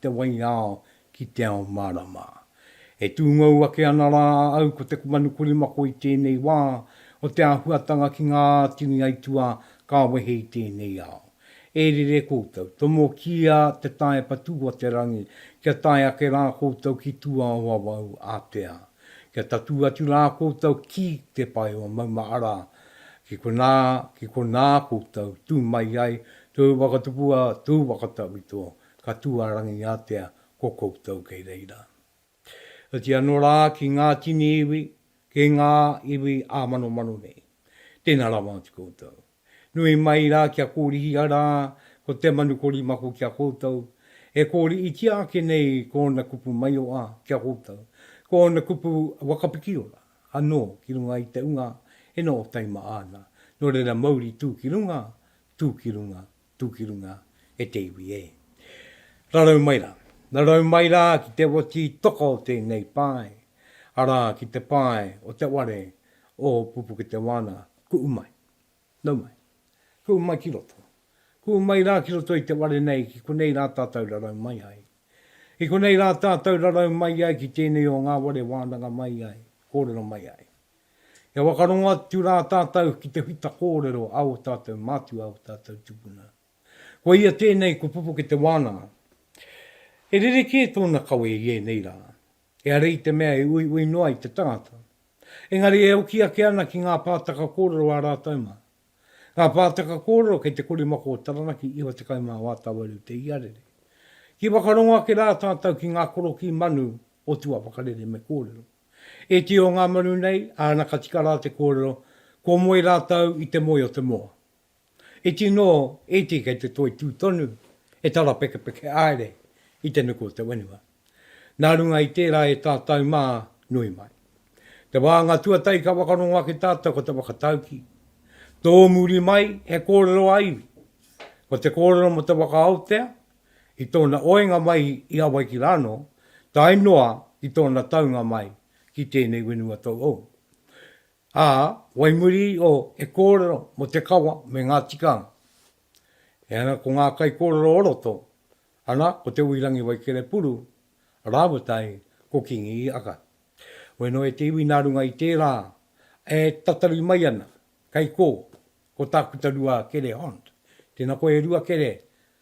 te waiao ki te ao mārama. E tūngou ake ana rā a au ko te kumanu korimako i tēnei wā o te āhuatanga ki ngā tini aituā ka wehe i tēnei ao. E rere koutou, tomokia te tae patu o te rangi kia tae ake rā koutou ki tua o awau ātea. Kia tatū atu rā koutou ki te pae o Maumahara, ki konā, ki konā koutou tū mai ai, tōu whakatupua, tōu whakatawhito, ka tū a Rangiātea ko koutou kei reira. Oti anō rā ki ngā tini iwi, ki ngā iwi ā-manomano nei. Tēnā rawa atu koutou. Nui mai rā kia kōrihia rā ko te manu korimako ki a koutou, e kōriitia ake nei ko ōna kupu maioa ki a koutou, ko ōna kupu wakapikiora anō ki runga i te unga e nō taima ana, nō reira mauri tū ki runga, tū ki runga, tū ki runga e te iwi e. Rarau mai rā. Rarau mai rā ki te wati toka o tēnei pae, arā, ki te pae o te ware o Pupuketewana, kuʻu mai. Nau mai. Kuʻu mai ki roto. Kuʻu mai rā ki roto i te ware nei ki konei rā tātou rarau mai ai. I konei rā tātou rarau mai ai ki tēnei o ngā ware wānanga mai ai, kōrero mai ai. E whakarongo atu rā tātou ki te whita kōrero a ō tātou mātua, ō tātou tupuna. Ko ia tēnei ko Pupuke Te Wānanga. He rerekē tōna kawe i ēnei rā. He hara i te mea e uiui noa i te tangata. Engari e hoki ake ana ki ngā pātaka kōrero ā rātou mā. Ngā pātaka kōrero kei te korimako o Taranaki, 94 tāwaru te iarere. Ki whakarongo ake rā tātou ki ngā korokī manu o tua whakarere me kōrero. E tio ngā manu nei, āna ka tika rā te kōrero, kua moe rātou i te moe o te moa. Iti nō, iti kei te toi tū tonu, e tarapekepeke haere i te nuku o te whenua. Nā runga i tērā e tātou mā, nui mai. Te wānga tuatahi ka whakarongo ake tātou ko te whakataukī. Tōmuri mai he kōrero a iwi. Ko te kōrero mō te whakaotea, i tōna oenga mai i Hawaiki rānō, tae noa ki tōna taunga mai ki tēnei whenua tauhou. Ā, wai muri o he kōrero mō te kawa me ngā tikanga. E ana ko ngā kaikōrero o roto, ana ko Te Uirangi Waikerepuru rāua tahi ko Kingi Ika. Weno e te iwi nā runga i tērā e tatari mai ana, kei kō, ko Tākuta Rua Kere Hond. Tēnā koe e Rua Kere,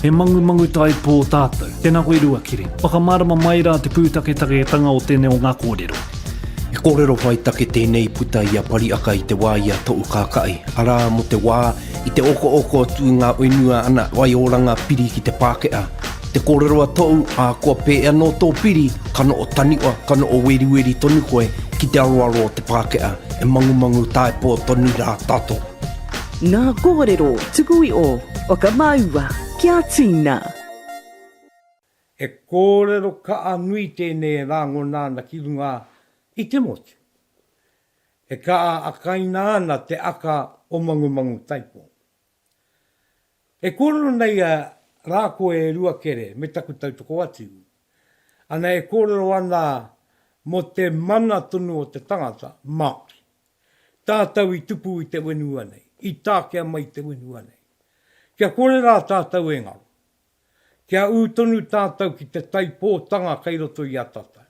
He mangu mangutaipō tātou. Tēnā koe Ruakiri. Whakamārama mai rā te pūtaketaketanga o tēnei o ngā kōrero. He kōrero whai take tēnei i puta i a Pariaka i te wā i a Toʻukākaʻi, arā, mō te wā i te okooko atu i ngā whenua ana waioranga piri ki te Pākehā. Te kōrero a Toʻu, ā, kua pē anō tō piri, ka noʻo taniwa, ka noʻo weriweri tonu koe ki te aroaro o te Pākehā, e mangumangutaipō tonu rā tātou. Ngā kōrero tuku i ō whakamāua kia tīna. He kōrero kaha nui tēnei e rāngona ana ki runga i te motu. E kaha akaina ana te aka o Mangumangu-taipo. E kōrero nei a Rā Koe e Ruakere me taku tautoko atu. Ana e kōrero ana mō te mana tonu o te tangata, Māori. tātou i tupu i te whenua nei, i takea mai i te whenua nei. Kia kore rā tātou e ngaro. Kia ū tonu tātou ki te taipōtanga kei roto i a tātou.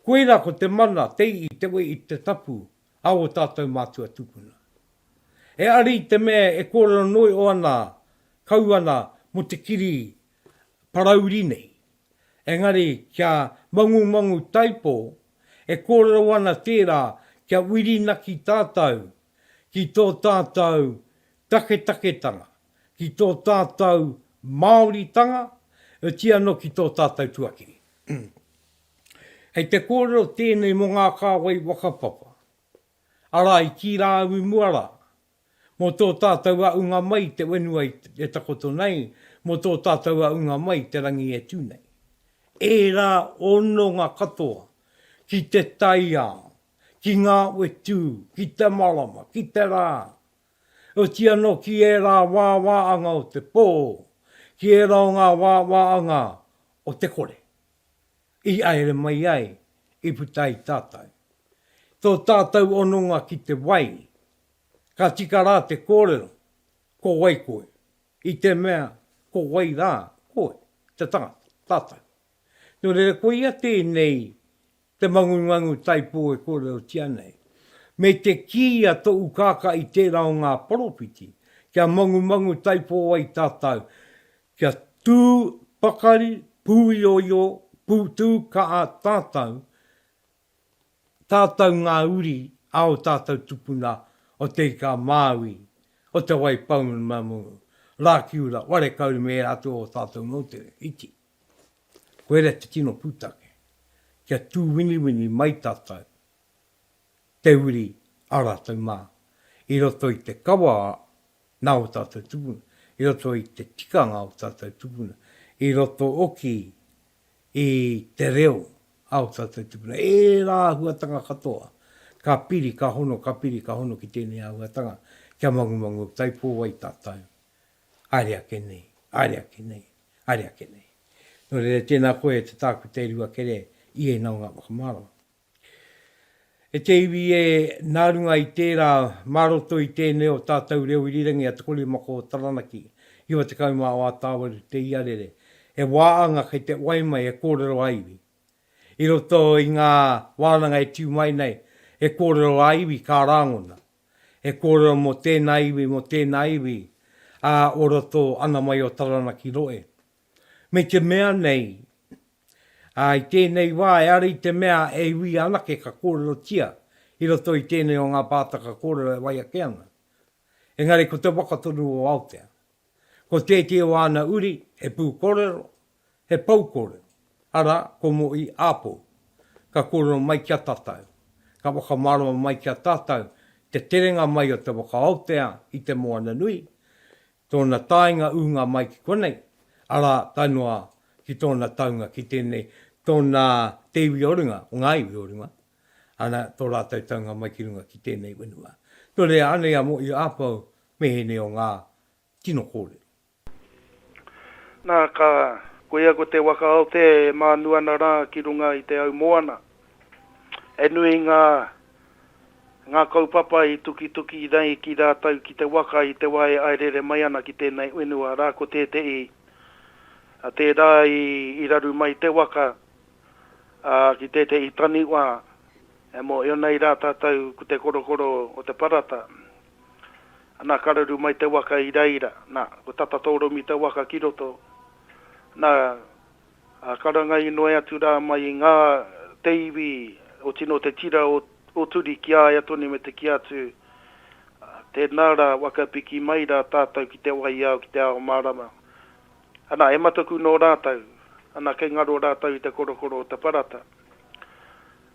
Koirā ko te mana, te i'i, te we'i, te tapu a ō tātou mātua tupuna. E ari i te mea e kōrero noio ana, kau ana mō te kiri parauri nei, Engari kia mangumangu taipō, e kōrero ana tērā kia whirinaki tātou ki tō tātou taketaketanga, ki tō tātou Māoritanga, otirā anō ki tō tātou tuakiri. Kei te kōrero tēnei mō ngā kāwai whakapapa, arā i kī rā au i mua rā, Mō tō tātou aʻunga mai te whenua e takoto nei, mō tō tātou aʻunga mai te rangi e tū nei. Ērā hononga katoa ki te taiao, ki ngā whetū, ki te marama, ki te rā, oti anō ki ērā wāwāanga o te pō, ki ērā o ngā wāwāanga o te kore. I haere mai ai, i puta ai tātou. Tō tātou hononga ki te wai, ka tika rā te kōrero, ko wai koe? I te mea, ko wai rā koe, te tangata, tātou. Nō reira, koia tēnei te mangungangu taipō e kōrerotia nei. Me te kī a Te Ukaka i tērā o ngā poropiti, kia mangumangu taipō ai tātou, Kia tū pakari, pūioio, pūtū kaha tātou, tātou ngā uri a ō tātou tupuna o Te Ika a Māui, o Te Wai Pounamu, Rākiura, Wharekauri me ērā atu o ō tātou moutere, iti. Koirā te tino pūtake. Kia tūwiniwini mai tātou. te uri a rātou mā, i roto i te kawa nā o tātou tupuna, i roto i te tikanga o tātou tupuna, i roto oki i te reo a o tātou tupuna. Ērā āhuatanga katoa ka piri, ka hono, ka piri, ka hono ki tēnei āhuatanga kia mangumangu o Tai Pōwai tātou, haere ake nei, haere ake nei, haere ake nei. Nō reira, tēnā koe e te tākuta e Ruakere, i ēnā o ngā whakamārama. E te iwi ē, nā runga i tērā, mā roto i tēnei o tātou reo irirangi a Te Korimako o Taranaki, 90 mā o Atawaru te iarere, he wā anga kei te wai mai he kōrero ā-iwi. I roto i ngā wānanga e tū mai nei, he kōrero ā-iwi ka rāngona, he kōrero mō tēnā iwi, mō tēnā iwi, ā, o roto ana mai o Taranaki rohe. me te mea nei, ā, i tēnei wā e ara i te mea e iwi anake ka kōrerotia i roto i tēnei o ngā pātaka kōrero e wai ake ana. Engari ko te waka tonu o Aotea, ko tētehi o āna uri he pūkōrero, he poukōrero, arā, ko Mo'i Āpou. Ka kōrero mai ki a tātou, ka whakamārama mai ki a tātou te terenga mai o te waka Aotea i te moana nui, tōna taenga ūnga mai ki konei, arā, tae noa ki tōna taunga ki tēnei, tōna te iwi o runga, o ngā iwi o runga, ana, tō rātou taunga mai ki runga ki tēnei whenua. Nō reira, anei a Moʻio Apau me ēnei o ngā tino kōrero. Nā, ka, koia ko Te Waka Aotea e mānu ana rā ki runga i te au moana, He nui ngā ngā kaupapa i tukituki nei ki rātou ki te waka i te wā e airere mai ana ki tēnei whenua arā ko tētehi a tērā i raru mai te waka a ki tētehi taniwha e mōhio nei rā tātou ko te korokoro o te parata nā ka raru mai te waka i reira nā ko tata tōromi te waka ki roto nā Ā, ka ranga inoi atu rā mai i ngā te iwi o tino te tira o Turi ki a ia tonu me te kī atu, Ā, tēnā rā, whakapiki mai rā tātou ki te waiao, ki te ao mārama. Anā, he mataku nō rātou, anā, kei ngaro rātou i te korokoro o te parata.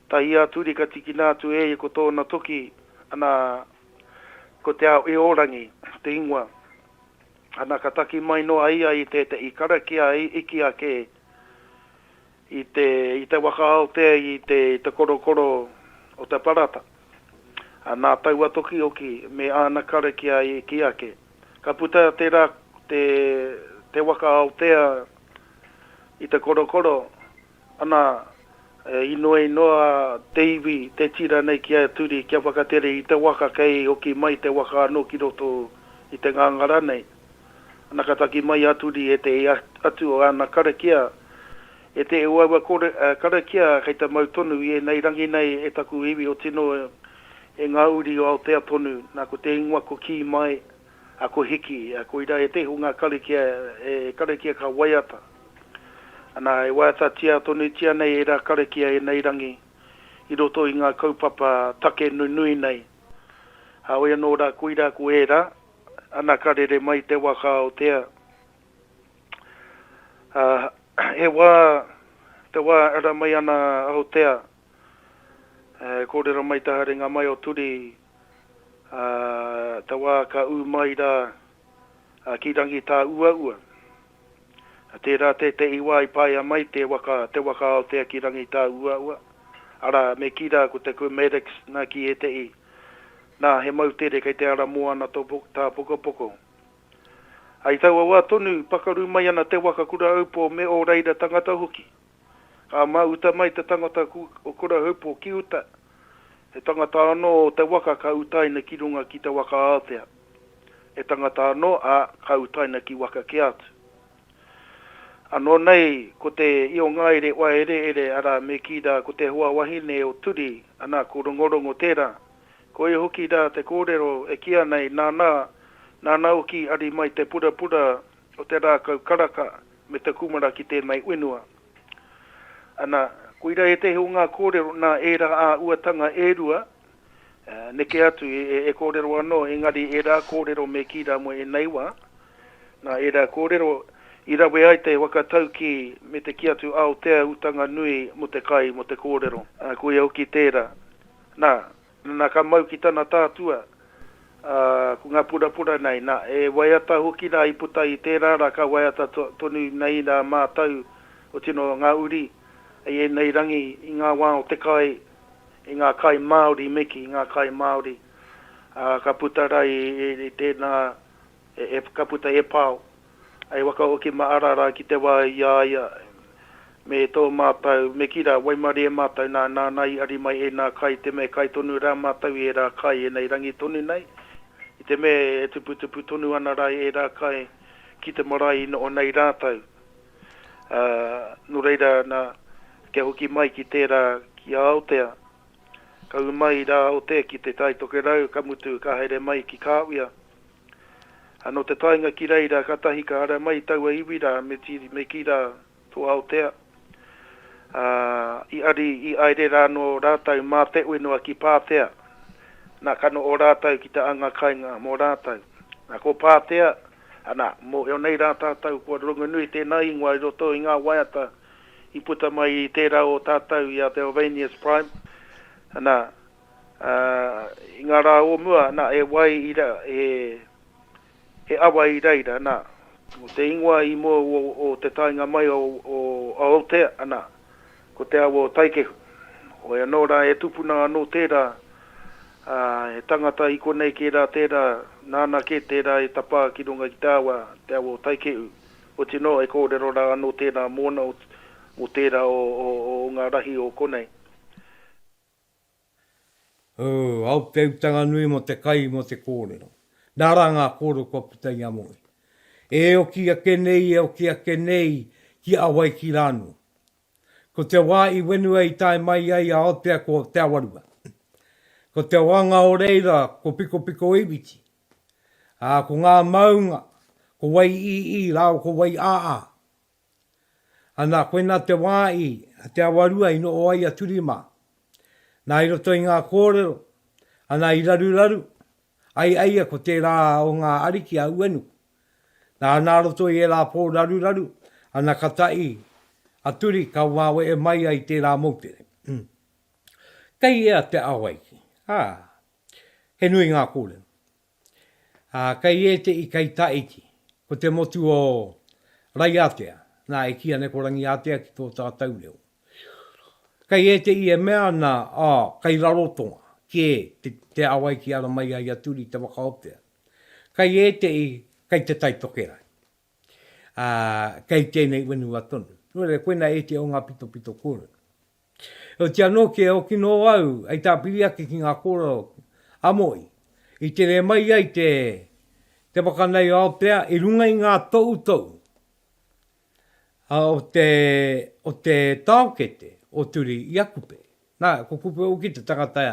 Tahi a Turi ka tikina atu e ia ko tōna toki, anā, ko Te Ao-io-rangi te ingoa. Ana ka taki mai noa ia i tētehi karakia i iki ake i te, i te waka aotea i te, i te korokoro o te parata. Ana taua tokihoki me ana karakia i iki ake. Ka puta te ra, te, te waka aotea i te korokoro, Ana, e inoei noa a te iwi te tira nei ki a Turi kia whakatere i te waka kei hoki mai te waka anō ki roto i te ngangara nei. Ana ka taki mai a Turi e te ia atu o ana karakia, E te o aua karakia kei te mau tonu i enei rangi nei e taku iwi o tino e nga uri o Aotea tonu, na ko te ingoa ko Ki Mai, Ako hiki, koira he teihunga karakia e karakia ka waiata. Ana, e waiatatia tonutia nei ērā karakia e nei rangi i roto i ngā kaupapa take nunui nei. Hāoi anō rā koira ko ērā, ana ka rere mai te wā ka aotea. He wā, te wā e ara mai ana aotea. E kōrero mai te haerenga mai o Turi, ā, te wā ka ū mai rā ki Rangitāuaua. Tērā tētehi wā i paea mai te waka, te waka Aotea ki Rangitāuaua, arā, me kī rā ko te Quemerex nā ki ētehi, nā, he moutere kei te ara moana tō Tāpokopoko. I taua wā tonu, pakaru mai ana te waka Kura Aupō me ō reira tangata hoki. Ka ma uta mai te tangata o Kurahupo ki uta, he tangata ano o te waka ka utaina ki runga ki te waka aotea, he tangata ano, a, ka utaina ki waka kē atu. Ano nei ko te Iongaere Waereere ara me ki ra ko te hoa wahine o Turi, ana ko Rongorongo tera, koia hoki ra te korero e ki ana e nana, nana hoki ari mai te purapura o te rākau karaka me te kumara ki tēnei whenua. Ana, koira ētehi o ngā kōrero nā ērā āuatanga e rua, neke atu e kōrero anō, engari ērā kōrero me kī rā mo ēnei wā, nā ērā kōrero i rawe ai te whakataukī me te kī atu Aotea utanga nui mo te kai mo te kōrero. Koia hoki tērā. Nā, Na ka mau ki tana tātua, a, ko nga purapura nei, na, e waiata hoki ra i puta i tērā ra ka waiata tonu nei ra mātou, oti no nga uri, i enei rangi, i nga wa o te kai, i nga kai Māori me ki nga kai Māori, a, ka puta ra i tēnā, e, ka puta e pao. I whakahoki ma Arara ki te wa i a ia me to matou me ki ra, waimarie e matou na, nana i ari mai ena kai te me kai tonu ra matou i era kai enei rangi tonu nei, i te me e tuputupu tonu ana ra i era kai ki te marae i noho nei ratou. A, no reira na, kia hoki mai ki tera ki a Aotea, ka u mai ra Aotea ki Te Tai Tokerau, ka mutu ka haere mai ki Kawia. A no te taenga ki reira katahi ka ara mai taua iwi ra me tiri me ki ra to Aotea, a i ari i aere ra no ratau ma te uenoa ki Patea, na ka no o ratau ki te anga kainga mo ratau. Na ko Patea, ana, mo eonei ra tatou kua rongonui tena ingoa i roto i nga waiata i puta mai i tera o tatou i a Belvanius Prime, ana, Ā, i ngā rā o mua, nā, he wai i ra, he, he awa i reira, nā, ko te ingoa i mua o, o te taenga mai o, o Aotea, nā, ko te awa o Taikehu. Hoi anō rā, e tupuna anō tērā, ā, he tangata i konei kē rā tērā, nāna kē tērā i tapā ki runga ki te awa, te awa o Taikehu. Otirā noa, e kōrero rā anō tērā mōna, mō tērā o, o, o ngā rahi o konei. Ooh, au te utanga nui mo te kai mo te korero. Na ra nga korero kua puta i a moe. E oki ake nei, e oki ake nei ki a wai ki ranu. Ko te wa i wenua i tae mai ai a Aotea ko Te Awarua. Ko te oanga o reira ko Pikopiko-iwiti. A ko nga maunga, ko wai-i-i rao ko wai-a-a. Ana, koina te wā i a Te Awarua i noho ai a Turi mā. Nā i roto i ngā kōrero, ana i raruraru, ai aia ko tērā o ngā ariki a Uenuku. Nā, nā roto i ērā pō raruraru, ana ka taʻi a Turi ka waweʻe mai ai tērā moutere. Kei ea te awaiki, ā, he nui ngā kōrero. Ā, kei ētehi kei Tahiti, ko te motu o Raiatea, nā, e kīia nei ko Rangiātea ki tō tātou reo. Kei ētehi e mea ana, ā, kei Rarotonga kē te, te ao ai ki ara mai ai a Turi te whakaotea. Kei ētehi, kei Te Tai Tokerau, ā, kei tēnei whenua tonu. Nō reira, koinā ētehi o ngā pitopito kōrero. Heoti anō ki e oki nō au hei tāpiri ake ki ngā kōrero a Mohi, i tere mai ai te te waka nei o Aotea i runga i ngā toutou o te o te taokete o Turi i a Kupe. Nā, ko Kupe hoki te tangata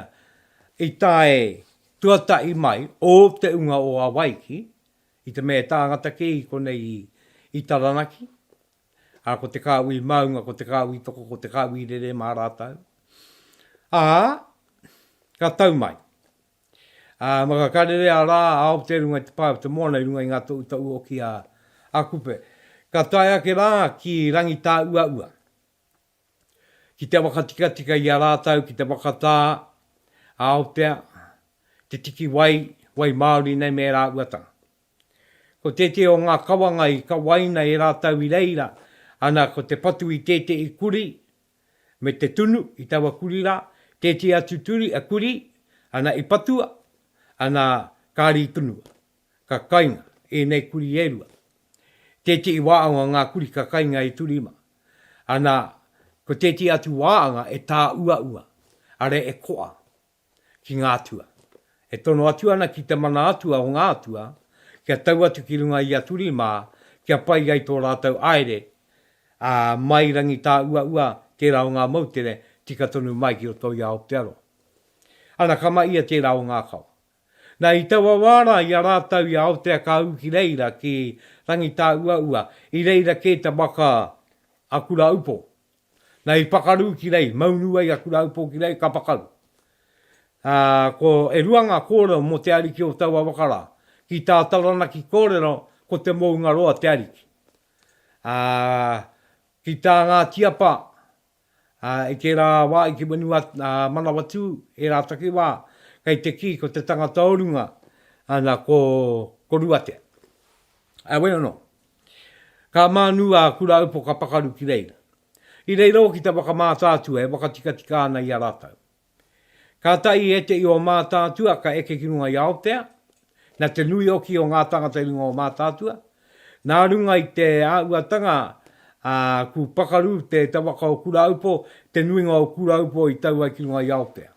i tae tuatahi mai o te unga o Hawaiki i te mea e tāngata kē i konei i Taranaki. ā, ko te kāhui māunga, ko te kāhui toko, ko te kāhui rere mā rātou. Ā, ka tau mai. Ā, maka ka rere a Rā, a Aotea i runga i te pae o te moana, i runga i ngā toʻutoʻu hoki a, a Kupe. Ka tae ake rā ki Rangitāʻuaʻua, ki te whakatikatika i a rātou ki te whakatā a Aotea, te tiki wai, wai māori nei me ērā uatanga. Ko tētehi o ngā kawanga i kawaina e rātou i reira, ana ko te patu i tētehi kurī, me te tunu i taua kurī rā, tētehi atu turi, a, kurī, ana i patua, ana kāre i tunua. Ka kainga ēnei kurī e rua. Tētehi wāanga ngā kurī ka kainga e Turima, ana ko tētehi atu wāanga e tāuaua, arā e koa. ki ngā atua. E tono atu ana ki te mana atua o ngā atua, kia tau atu ki runga i a Turi mā, kia pai ai tō rātou haere, ā, mai rangi tā uaua tērā o ngā moutere, tika tonu mai ki roto i Aotearoa. Ana ka ma ia tērā o Ngākau. Na, i taua wā rā i a rātou i a Aotea ka ū ki reira ki rangi tā uaua, i reira kē te waka a Kura Upo, Na i pakaru ki rei, maunu ai aku raupo ki rei, ka pakaru. A, ko, e rua nga korero mo te Ariki o taua waka ra, ki ta Taranaki korero ko te Moungaroa te Ariki. A, ki ta nga tiapa, a, i tera wa i te wenua, a, Manawatu, era takiwa, kei te ki ko te tangata o runga, ana ko, ko Ruatea. Away or not? Ka mānu a Kuraaupo ka pakaru ki reira. I reira hoki te waka mātaatua e wakatikatika ana i a rātou. Kātahi i ete i ō mātaatua ka eke ki runga i Aotea, na te nui hoki o ngā tangata i runga o mātaatua, nā runga i te āuatanga a ku pakaru te te waka o Kuraaupo, te nuinga o Kuraaupo i tau ai ki runga i Aotea.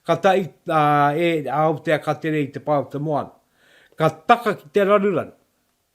Katahi a e Aotea ka tere i te pa o te moana. Ka taka ki te raruraru.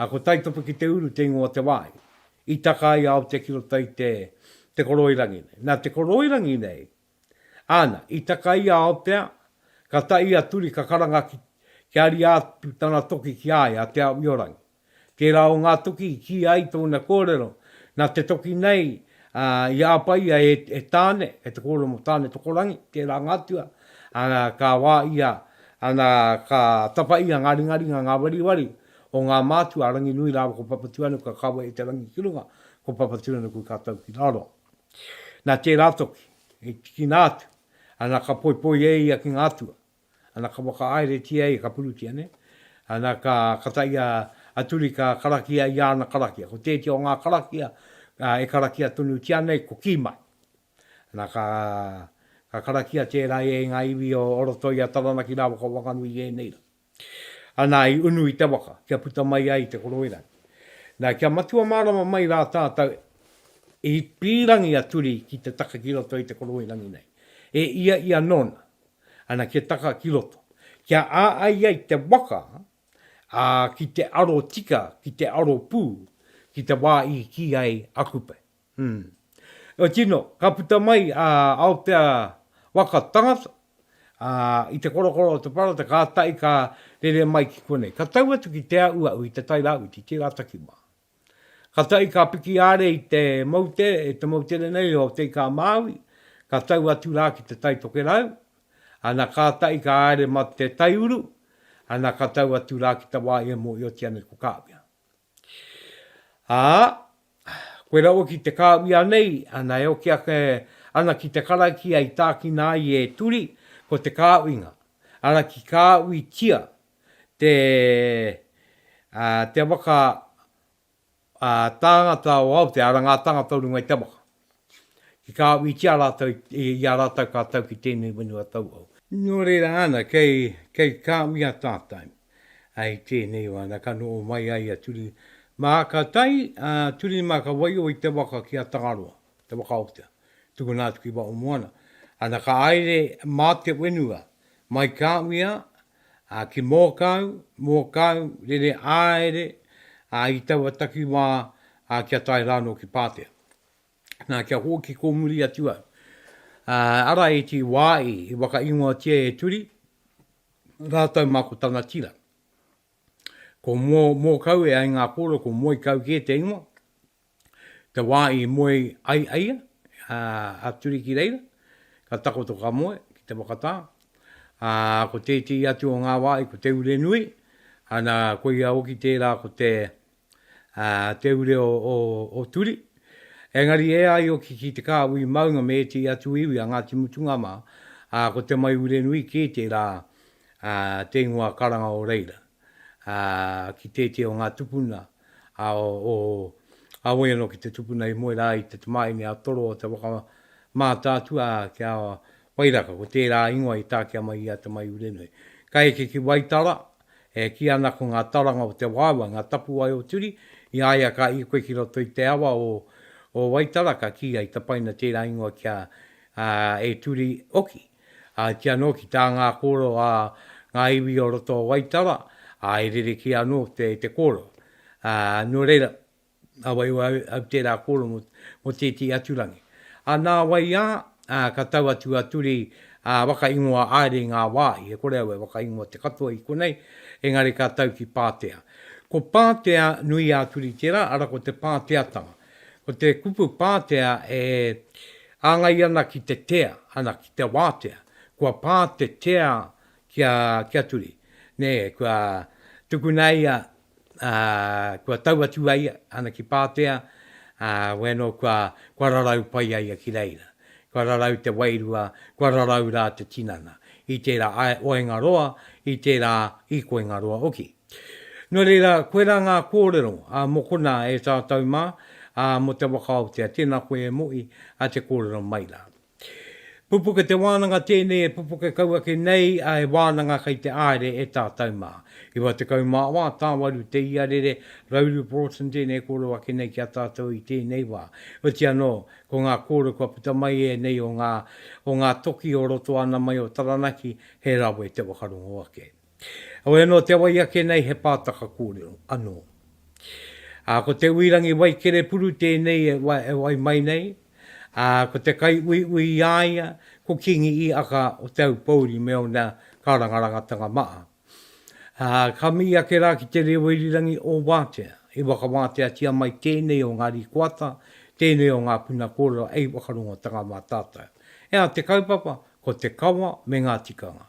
A ko Taitopa ki te uru te ingoa Te Wai, i taka ai a Aotea ki roto i te, te koroirangi nei. Na te koroirangi nei, ana, i taka ai a Aotea, ka ta i a Turi ka karanga ki, kia ria atu tana toki ki a ia, a Te Aomiorangi. Tera o nga toki i ki ai tona korero, na te toki nei, a, i apa ia e, e Tane, e te korero mo Tane Tokorangi, tera nga atua, Ana ka wāia, ana ka tapa ia ngā ringaringa, ngā wariwari o ngā mātua a Ranginui rāua ko Papatūānuku ka kawe i te rangi ki runga, ko Papatūānuku ka tau ki raro. Nā tērā toki, i tikina atu, ana ka poipoi e ia ki ngā atua, ana ka whakaaeretia ia, ka purutia nei, ana ka kata ia a Turi ka karakia i ana karakia. Ko tētia o ngā karakia e karakia tonutia nei ko Kīmai. Na, ka, ka karakia tērā e ngā iwi o, o roto i a Taranaki rāua ko Wanganui i ēnei rā. Anā, i unu i te waka, kia puta mai ai te koroerangi. Na, kia matua mārama mai rā tātou, i pīrangi a Turi ki te taka ki roto i te koroerangi nei. E ia ia nōna, ana, kia taka ki roto. Kia āai ai te waka, ā, ki te aro tika, ki te aro pū, ki te wā i kī ai a Kupe. Hum. Nō tino, ka puta mai a Aotea waka tangata, ā, i te korokoro o te parata kātahi ka rere mai ki konei. Ka tau atu ki Te Auau i te Tai Rāwhiti, tērā taki mā. Kātahi ka piki āre i te moutere, i te moutere nei o Te Ika a Māui, ka tau atu rā ki te Tai Tokerau, ana kātahi ka haere ma te taiuru, ana ka tau atu rā ki te wā i e mōhiotia nei ko Kāwea. Ā, koe rawa ki te kāwia nei, ana e oki ake ana ki te karakia i tākina ai e Turi, ko te kāwinga, ara ki kāwitia te, ā, te waka, ā, tāngata o Aotea, ara ngā tāngata o runga i te waka. ki kā wītia rātou i a rātou kā tau ki tēnei whenua tauhou. Nō reira ana, kei, kei kā wīa tātou, ā, i tēnei wā, nā, ka noho mai ai a Turi mā, ka tae a Turi mā ka waio i te waka ki a Tangaroa, te waka o te, tukuna atu ki Waʻomoana, ana ka aere mā te whenua, mai kā wīa, ā, ki Mōkau, Mōkau, rere āere, ā, i taua takiwā, ā, kia tae rānō ki Pātea. Nā, kia hōki kōmuri atu au. Ā, ara e tī wā i, i whakaingoatia e Turi, rātou mā ko tana tira. Ko Mō, Mōkau e ai ngā kōrero ko Moikau kē te ingoa, te wā i moe ai a ia, a Turi ki reira, ka takoto ka moe ki te whakatā. Ā, ko tētehi atu o ngā wāhi ko Te Urenui, ana, koia hoki tērā ko te, ā, te ure o, o, o Turi. Engari e ai hoki ki te kāhui maunga me ētehi atu iwi a Ngāti Mutunga mā, ā, ko Te Mai Urenui kē tērā, ā, te ingoa karanga o reira. ki tētehi o ngā tupuna a o Aoi anō ki te tupuna i moe rā i te tamāhine a Toro o te waka mātaatua ki a Wairaka, ko tērā ingoa i takea mai i a Te Maiurenui. Ka eke ki Waitara, e kī ana ko ngā taranga o te waewae ngā tapuwae o Turi, i a ia ka ikoe ki roto i te awa o o Waitara ka kī ai tapaina tērā ingoa ki a e Turi hoki. Ā, i kī anō ki tā ngā kōrero a ngā iwi o roto o Waitara, ā, e rerekē anō te, te kōrero. Ā, nō reira, nā wai au, au tērā kōrero mō, mō tētehi atu rangi. Ā, nā wai ā, ā, ka tau atu a Turi, ā, whakaingoa haere i ngā wāhi, e kore au e whakaingoa te katoa i konei, engari ka tau ki Pātea. Ko Pātea nui a Turi tērā, arā, ko te Pāteatanga. Ko te kupu pātea e āngai ana ki te tea, ana ki te wātea, kua pā te tea ki a, ki a Turi. Nē, kua tukuna e ia, ā, kua tau atu a ia, ana ki pātea, ā, wēnō kua, kua rarau pai a ia ki reira. Kua rarau te wairua, kua rarau rā te tinana, i tērā ae, o Engaroa, i tērā i ko Engaroa hoki. Nō reira, koirā ngā kōrero a Mokona e tātou mā, ā, mō te waka Aotea. Tēnā koe e Mo'i, ā, te kōrero mai rā. Pupuke te wānanga tēnei e pupuke kau ake nei, ā, e wānanga kei te āere e tātou mā. 94 tāwaru te iarere, Rauru Broughton tēnei e kōrero ake nei ki a tātou i tēnei wā. Oti anō, ko ngā kōrero kua puta mai e nei o ngā, o ngā toki o roto ana mai o Taranaki, he rawe te whakarongo ake. Heoi anō, te wai ake nei he pātaka kōrero anō. Ā, ko Te Uirangi Waikerepuru tēnei e wai mai nei, ā, ko te kaiuiui i a ia ko Kingi Iaka o Te Aupōuri me ōna kārangarangatanga maha. Ā, ka mihi ake rā ki te reo irirangi o wātea, i whakawāteatia mai tēnei o ngā rīkoata, tēnei o ngā puna kōrero hei whakarongotanga mā tātou. Ea te kaupapa, ko te kawa me ngā tikanga.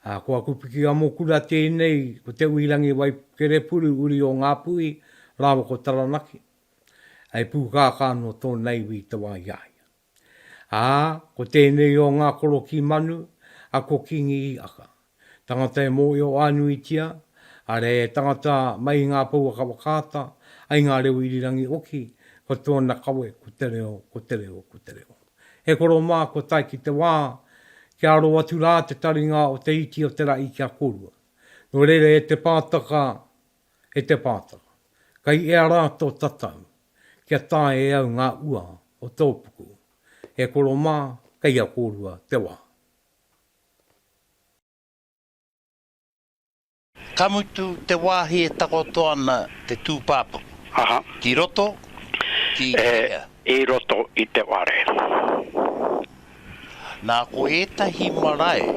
Ko aku pikiamokura tēnei, ko Te Uirangi Waikerepuru, uri o Ngāpuhi, rāua ko Taranaki. He pūkākā nō tōna iwi i te wā i a ia. Ā, ko tēnei o ngā korokī manu, a Ko Kingi Hiaka. Tangata e mōhio-ā-nuitia, arā, he tangata mai i ngā pouaka whakaata ai ngā reo irirangi oki, ko tōna kawe, ko te reo, ko te reo, ko te reo. He koro mā kua tae ki te wā, kia aro atu rā te taringa o te iti o te rahi kia korua. Nō reira e te pātaka, e te pātaka, kei ea rā tō tatau, kia tae e au ngā ua o tō puku. He koro mā, kei a kōrua te wā. Ka mutu te wāhi e takoto ana te tūpāpaku. Aha. Ki roto, ki hea? E, i roto i te whare. Nā, ko ētahi marae,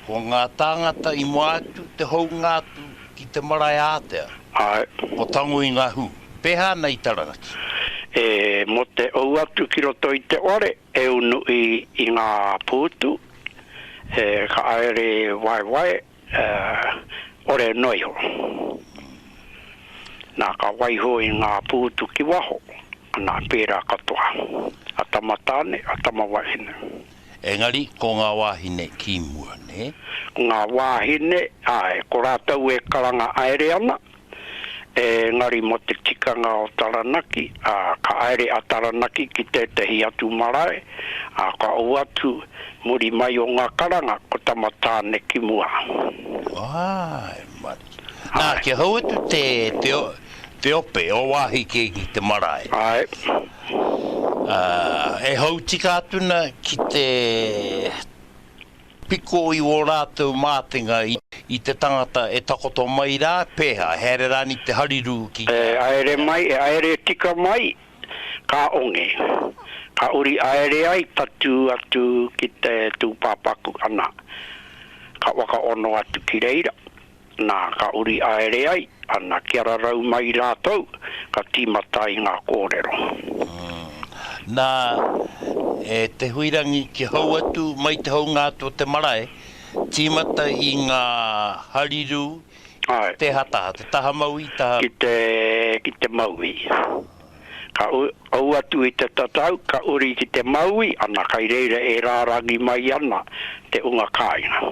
ko ngā tāngata i mua atu te hounga atu ki te marae ātea. Āe. Ko Tango i ngā hū. Pēhā ana i Taranaki? E, mō te ou atu ki roto i te whare, e unu i, i ngā pūtu, e, ka haere waewae, Ā, ore noa iho. Nā, ka waiho i ngā pūtu ki waho, anā, pērā katoa, a tama tāne, a tama wahine. Engari, ko ngā wāhine ki mua, nē? Ko ngā wāhine, āe, ko rātou e karanga aere ana, Engari mō te tikanga o Taranaki, ā, ka haere a Taranaki ki tētehi atu marae, ā, ka ou atu muri mai o ngā karanga ko Tama Tāne ki mua. Āe, mate. Nā, kia hou atu te, te, te ope o wāhi kē ki te marae. Āe. Ā, e hou tika atu ana ki te. Piko i ō rātou mātenga i te tangata e takoto mai rā, pēhā, he haere rāni te harirū ki te. E haere mai, e haere tika mai, ka onge, ka uri haere ai tatū atu ki te tūpāpaku, ana, ka whakaono atu ki reira. Nā, ka uri aere ai, ana kia rarau mai rātou, ka tīmata ai ngā kōrero. Nā, e te huirangi ki hou atu mai te hounga atu o te marae, tīmata i ngā harirū i te hataha, te taha mauī, te taha. Ki te, ki te mauī. Ka ū atu i te tatau, ka uri ki te mauī, ana kai reira e rārangi mai ana te unga kāinga.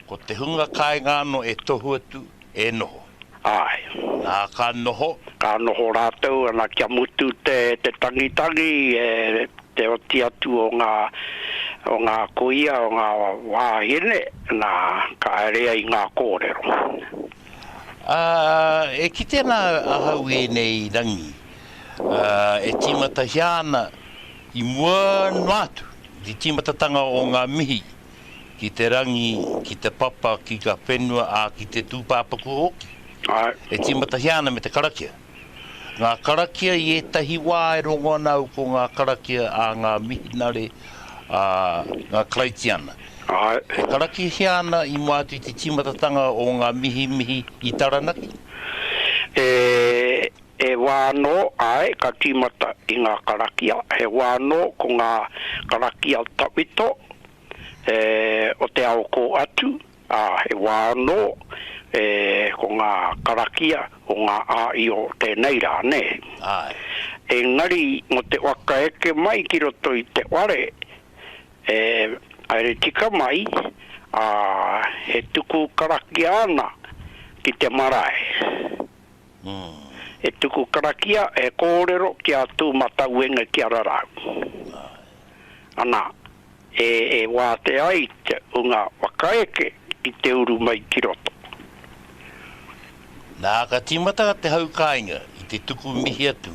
Ko te hunga kāinga anō e tohu atu, e noho. Āe. Nā, ka noho. Ka noho rātou ana kia mutu te tangitangi, e te oti atu o ngā, o ngā kuia, o ngā wāhine, nā, ka haere ai ngā kōrero. Ā, e kite ana ahau i ēnei rangi, ā, e tīmatahia ana i mua noa atu, i te tīmatatanga o ngā mihi ki te rangi, ki te papa, ki nga whenua, a ki te tūpāpaku hoki. Ae. E tīmatahia ana me te karakia. Ngā karakia i ētahi wā e rongo ana au ko ngā karakia a ngā mihinare, a ngā Karaitiana. Ae. E karakihia ana i mua atu i te tīmatatanga o ngā mihimihi i Taranaki. E He wā anō, āe, ka tīmata i ngā karakia, he wā anō ko ngā karakia tawhito e, o te ao kō atu, ā, he wā anō e, ko ngā karakia o ngā āio tēnei rā, nē. Āe. Engari, mō te waka eke mai ki roto i te whare, e, haere tika mai, ā, e tuku karakia ana ki te marae. E tuku karakia, e kōrero ki a Tū-mata-uenga ki a Rarau. Ana, e wātea ai te hunga whakaeke ki te uru mai ki roto. Nā, ka tīmata te hau kāinga i te tuku mihi atu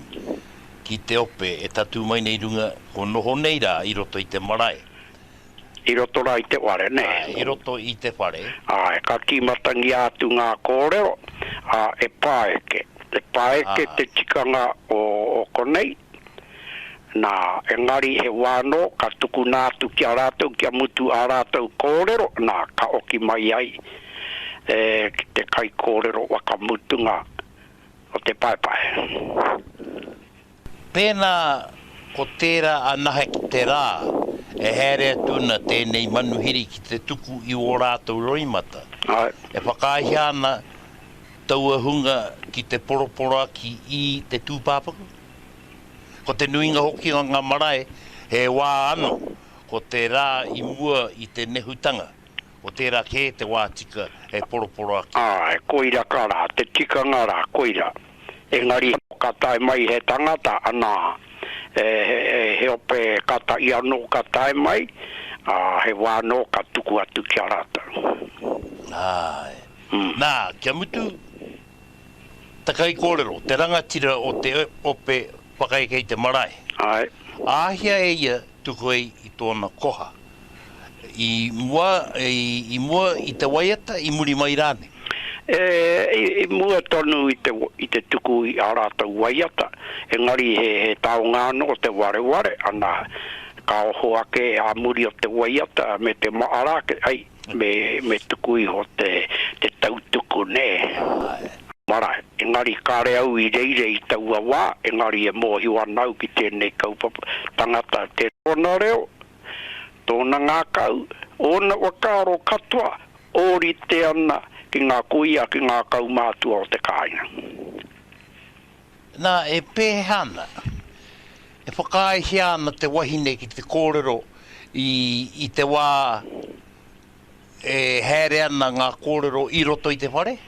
ki te ope e tatū mai nei runga, kua noho nei rā i roto i te marae. I roto rā i te whare, nē? Āe, i roto i te whare. Āe, ka tīmatangia atu ngā kōrero, ā, e pāeke. E pāeke te tikanga o konei, nā, engari he wā anō ka tukuna atu ki a rātou kia mutu ā rātou kōrero, nā, ka oki mai ai e ki te kaikōrero whakamutunga o te paepae. Pēnā ko tērā anahe ki te rā e haere atu ana tēnei manuhiri ki te tuku i ō rātou roimata, e whakaaehia ana taua hunga ki te poroporoaki i te tūpāpaku? Ko te nuinga hoki o ngā marae he wā anō, ko te rā i mua i te nehutanga, ko tērā kē te wā tika e poroporoaki. Āe, koira ka rā, te tikanga rā, koira. engari ka tae mai he tangata, anā, he ope kata ia anō ka tae mai, ā, he wā anō ka tuku atu ki a rātou. Āe. Nā, kia mutu, te kaikōrero, te rangatira o te ope whakaeke i te marae, āhea e ia Tuku ai i tōna koha. I mua, i mua i te waiata, i muri mai rānei? I mua tonu i te tuku i ā rātou waiata, engari he taonga anō te wareware, ana, ka oho ake ā muri o te waiata me te mahara ake, ai, Me tuku iho te tautuku, nē? Āe. Marae. Engari kāre au i reira i taua wā, engari e mōhio ana au ki tēnei kaupapa tangata, tōna reo, tōna ngākau, ōna whakaaro katoa, ōrite ana ki ngā kuia, ki ngā kaumātua o te kāinga. Nā, e pēhea ana? E whakaaehia ana te wahine ki te kōrero i, i te wā e haere ana ngā kōrero i roto i te whare?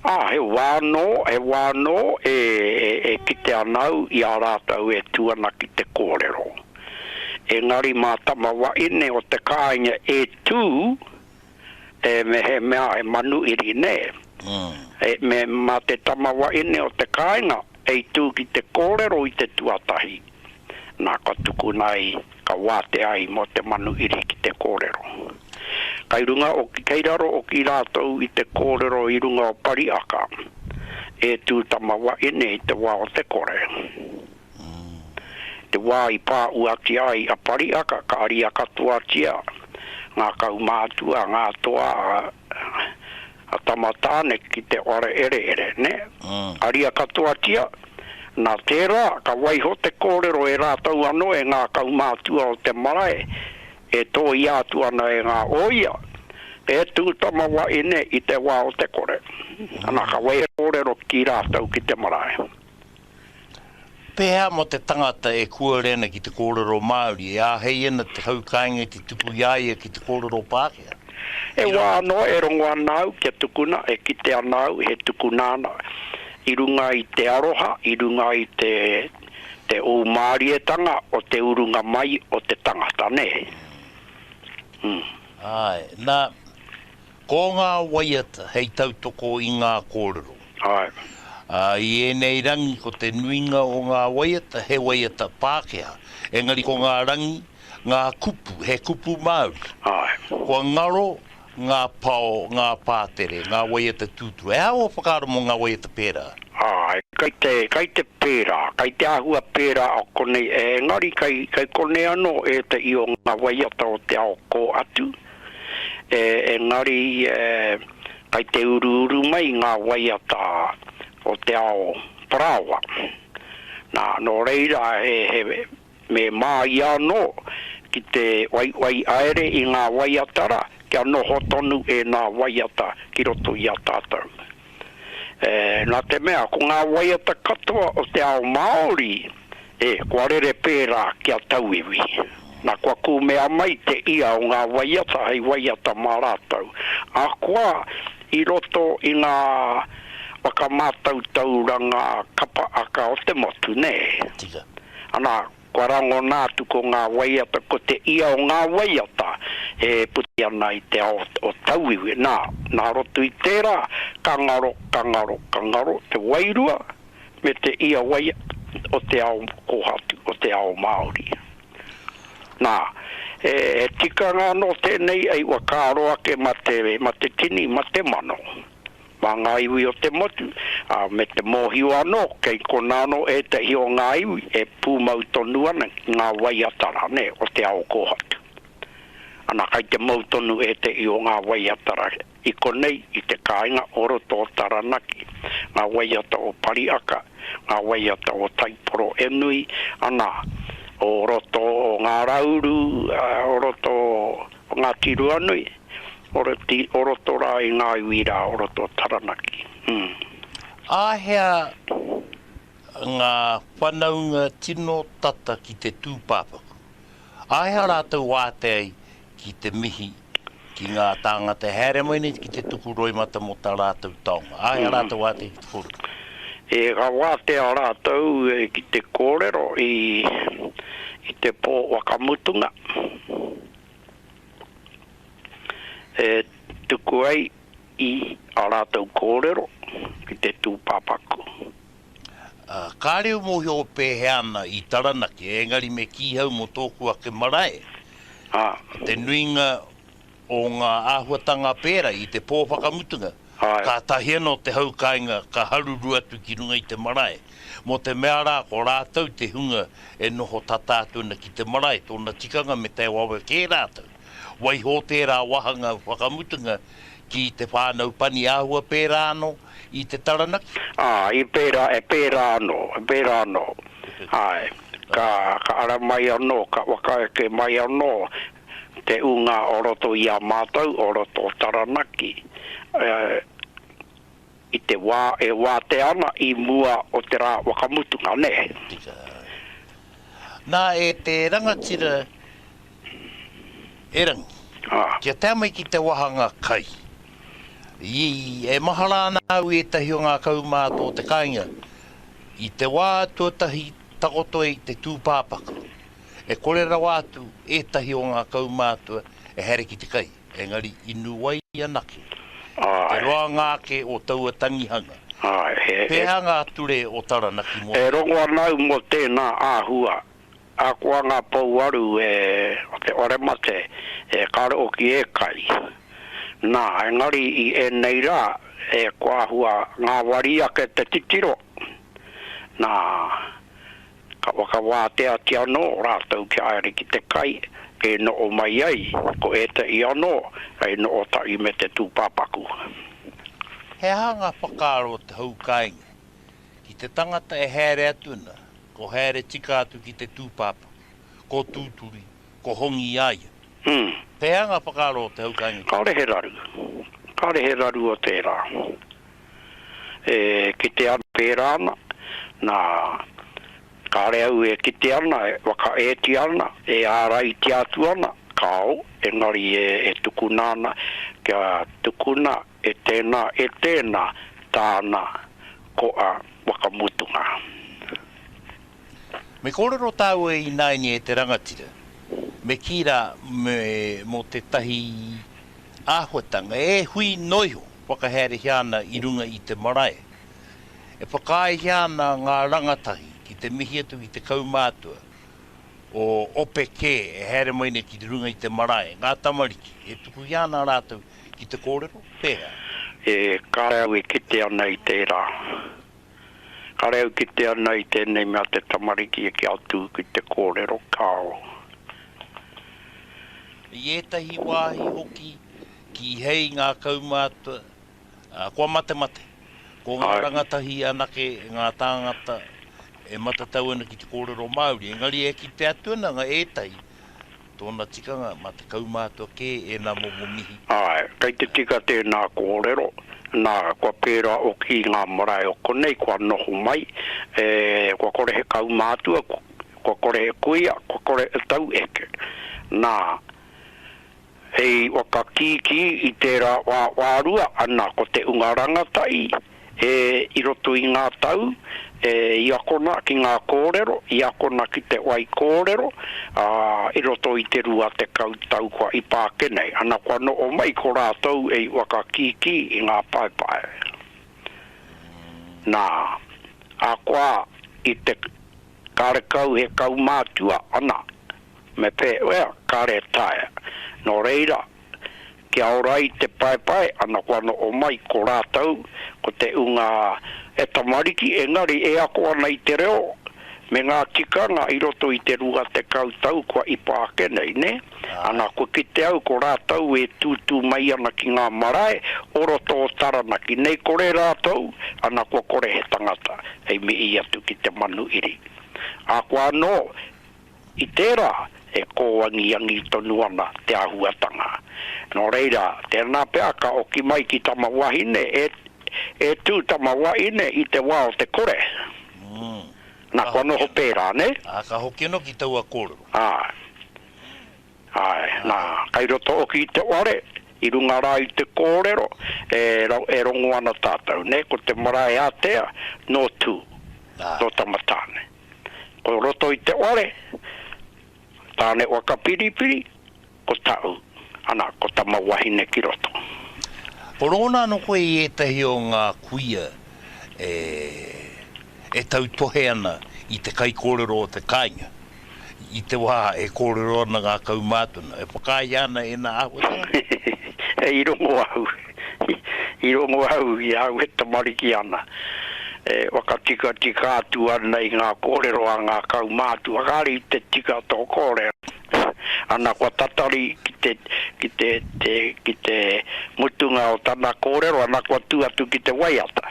Ā, he wā anō, he wā anō e, e, e kite ana au i a rātou e tū ana ki te kōrero. Engari mā tama wahine o te kāinga e tū, e mehemea he manu iri nei, me ma te tama wahine o te kāinga hei tū ki te kōrero i te tuatahi, nā ka tukuna ai, ka wātea ai mō te manu iri ki te kōrero. Kai runga hoki, kei raro hoki rātou i te kōrero i runga o Pariaka, e tū tama wahine i te wā o te kore. Te wā i pāuatia ai a Pariaka ka aria katoatia ngā kaumātua, ngā toa a Tama Tāne ki te whare ereere, nē. Aria katoatia, nā tērā ka waiho te kōrero e rātou anō e ngā kaumātua o te marae e tōia atu ana e ngā ōia, E tū tama wahine i te wā o te kore. Ana ka waiho te kōrero ki rātou ki te marae. Pēhea mō te tangata e kōrero ana ki te kōrero Māori, e āhei ana te hau kāinga i te tuku i a ia ki te kōrero Pākehā? He wā anō e rongo ana au kia tukuna, e kite ana au he tukuna ana i runga i te aroha, i runga i te ūmārietanga o te urunga mai o te tangata, nē? Āe. Nā, Ko ngā waiata hei tautoko i ngā kōrero. Āe. Ā, i ēnei rangi ko te nuinga o ngā waiata he waiata Pākehā, engari ko ngā rangi, ngā kupu, he kupu Māori. Āe. Kua ngaro ngā pao, ngā pātere, ngā waiata tūturu. He aha ua whakaaro mō ngā waiata pērā? Āe, kei te, kei te pērā, kei te āhua pērā o konei, engari kei, kei konei anō ētahi o ngā waiata o te ao kō atu. engari kai te uruuru mai ngā waiata o te ao parāoa. Nā, nō reira he me māia anō ki te waiwai aere i ngā waiata rā kia noho tonu ēnā waiata ki roto i a tātou. Nā te mea, ko ngā waiata katoa o te ao Māori, e, kua rere pērā ki a tauiwi. Nā, kua kūmea mai te ia o ngā waiata hei waiata mā rātou. Ahakoa, i roto i ngā whakamātautauranga kapa aka o te motu, nē? Tika. Anā, Kua rangona atu ko ngā waiata, ko te ia o ngā waiata e puta ana i te ao o tauiwi. Nā, nā roto i tērā, ka ngaro, ka ngaro, ka ngaro te wairua me te ia waiata o te ao kōhatu, o te ao Māori. Nā, he tikanga anō tēnei, e whakaaro ake ma te, ma te tini, ma te mano. Mā ngā iwi o te motu, ā, me te mōhio anō, kei konā anō ētahi o ngā iwi e pūmau tonu ana ki ngā waiata rānei o te ao kōhatu. Anā, kei te mau tonu ētahi o ngā waiata rā i konei i te kāinga o roto o Taranaki, ngā waiata o Pariaka, ngā waiata o Taiporo e nui ana, o roto o Ngā Rauru, o roto o Ngāti Ruanui. Oroti, o roto rā i ngā iwi rā o roto o Taranaki, hm. Āhea ngā whanaunga tino tata ki te tūpāpaku? Āhea rātou wātea i ki te mihi ki ngā tāngata e haere mai nei ki te tuku roimata mō tā rātou taonga? Āhea rātou wātea ki te kōrero? E, ka wātea rātou ki te kōrero i te pō whakamutunga. e tuku ai i ā rātou kōrero ki te tūpāpaku. Ā, kāre u mōhio pēhea ana i Taranaki, ēngari me kī hau mō tōku ake marae, te nuinga o ngā āhuatanga pērā i te pō whakamutunga, Kātahi anō te hau kāinga ka haruru atu ki runga i te marae, mō te mea rā ko rātou te hunga e noho tata atu ana ki te marae, tōna tikanga me tae wawe kē rātou. Waiho tērā wāhanga whakamutunga ki te whānau pani āhua pērā anō i te Taranaki. Ā, i pērā, e pērā anō, e pērā anō, āe, ka ara mai anō, ka whakaeke mai anō te ūnga o roto i a mātou o roto o Taranaki i te wā e wātea ana i mua o te rā whakamutunga, nē. Tika. Nā, e te rangatira erangi, kia tae mai ki te wāhanga kai, i, e mahara ana au i ētahi o ngā kaumātua o te kāinga, i te wā tuatahi takoto i te tūpāpaku. E kore rawa atu ētahi o ngā kaumātua e haere ki te kai, engari i nu ai anake te roanga ake o taua tangihanga. Pēhea ngā ture o Taranaki mō tēnei? E rongo ana au mō tēnā āhua. Ahakoa ngā pouaru o te Oremate e karo hoki e kai, nā, engari i ēnei rā e koa hua ngāwari ake te titiro, nā, Ka whakawāteatia anō rātou kia haere ki te kai e noho mai ai ko ētahi anō hei noho tahi me te tūpāpaku. He aha ngā whakaaro o te hou kāinga? Ki te tangata e haere atu ana, ko haere tika atu ki te tūpāpaku, ko tūturi, Ko Hongi i a ia. Pehea nga whakaaro o te haukainga ki. Kaore he raru. Kaore he raru o tera. E kite ana, pera ana, na, kare au e kite ana, e whakaetia ana, e araitia atu ana, kao, engari e tukuna ana kia tukuna E tēnā, e tēnā, tāna ko a Wakamutunga. Me kōrero tāu e ināini e te rangatira, me kī rā, me mō tētahi āhuatanga e hui noa iho whakahaerehia ana i runga i te marae, e whakaaehia ana ngā rangatahi ki te mihi atu ki te kaumātua o ope kē e haere mai nei ki runga i te marae, ngā tamariki, e tukuhia ana rātou Ki te kōrero, pērā. E kare au e kite ana i tērā. Kare au kite ana i tēnei mea te tamariki e kia tū ki te kōrero, kāo. I ētahi wāhi hoki, kīhei ngā kaumātua, ā, kua matemate. Ko ngā rangatahi anake ngā tāngata e matatau ana ki te kōrero Māori, engari e kite atu ana ngā ētahi. Tōna tikanga, mā te kaumātua kē ēnā momo mihi. Āe, kei te tika tēnā kōrero, nā, kua pērā hoki i ngā marae o konei kua noho mai, e, kua kore he kaumātua, kua kore he kuia, kua kore he taueke. Nā, hei whakakīkī i tērā wā wārua, ana ko te unga rangatahi, E, i roto i ngā tau, e, i akona ki ngā kōrero, i akona ki te wai kōrero, ā, i roto i te rua tekau tau kua ipa ake nei, ana kua noho mai ko rātou e i whakakīkī i ngā paepae. Nā, ahakoa i te karekau he kaumātua, ana, me pēwea, kare taea. Nō reira, kia ora ai te paepae ana kua noho mai ko rātou ko te ūnga e tamariki engari e ako ana i te reo me ngā tikanga i roto i te rua tekau tau kua ipa ake nei nē ana kua kite au ko rātou e tūtū mai ana ki ngā marae o roto o Taranaki nei kore rātou ana kua kore he tangata hei mihi atu ki te manu iri a kua anō I tērā, e kōangiangi tonu ana te āhuatanga. Nō reira, tēnā pea ka oki mai ki tama wahine, e, e tū tama wahine i te wā o te kore. Mm. Na, kua noho pērā, nē? Ā, ka hoki anō ki taua kōrero. Āe. Āe, nā, kei roto oki i te whare, i runga rā i te kōrero, e, e rongo ana tātou, nē, ko te marae ātea, nō Tū, nō Tamatāne. Ko roto i te ware, Tāne waka piripiri, ko Taʻu, ana, ko tama wahine ki roto. Ko Rona ano koe i etahi o nga kuia e e tautohe ana i te kaikorero o te kainga i te wa e korero ana nga kaumātuna e whakaahia ana ena ahotanga? Hei rongo ahu. I rongo au i a au e tamariki ana, e whakatikatika atu ana i ngā kōrero a ngā kaumātua, kāre i te tika tō kōrero. Ana kua tatari ki te mutunga o tana kōrero, ana kua tū atu ki te waiata.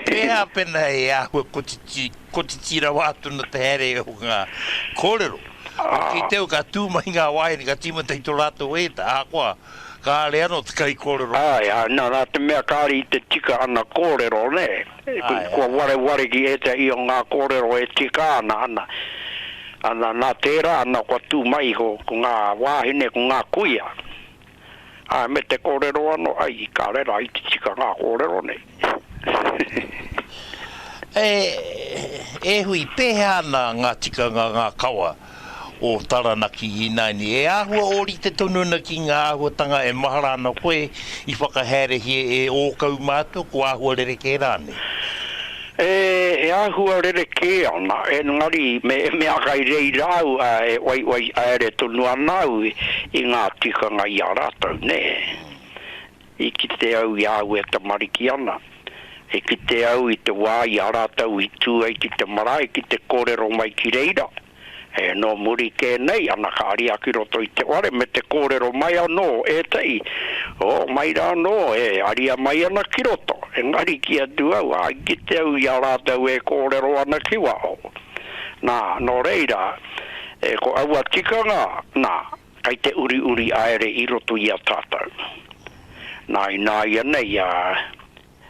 Pēhā pēnā e āhua kotiti, kotiti rawa atu na te haere o ngā kōrero? Ki te au ka tū mai ngā waeine ka tīmata i tō rātou ēta, ahakoa kāore anō te kaikōrero. Āe, āe, nā, nā te mea kāre i te tika ana kōrero, nē, kua wareware ki ētahi o ngā kōrero e tika ana, ana, ana, nā tērā ana kua tū mai iho ko ngā wāhine, ko ngā kuia, ā, me te kōrero anō, ai, i kā reira, ai te tika ngā kōrero nei. E, e hui, pēhea ana ngā tikanga, ngā kawa o Taranaki ināianei? E āhua ōrite tonu ana ki ngā āhuatanga e mahara ana koe i whakahaerehia e ō kau mātua, ko āhua rerekē rānei? E, e āhua rerekē ana, engari me, me aha i reira au, ā, e waiwai haere tonu ana au i ngā tikanga i a rātou, nē. I kite au i a au e tamariki ana. I kite au i te wā i a rātou i tū ai ki te marae ki te kōrero mai ki reira. E, nō muri kē nei, ana ka aria ki roto i te whare me te kōrero mai anō ētahi, o, mai rā anō, e aria mai ana ki roto, engari kī atu au, ā, i kite au i a rātou e kōrero ana ki waho. Nā, nō reira, e, ko aua tikanga, nā, kei te uriuri aere i roto i a tātou. Nā, ināianei, ā,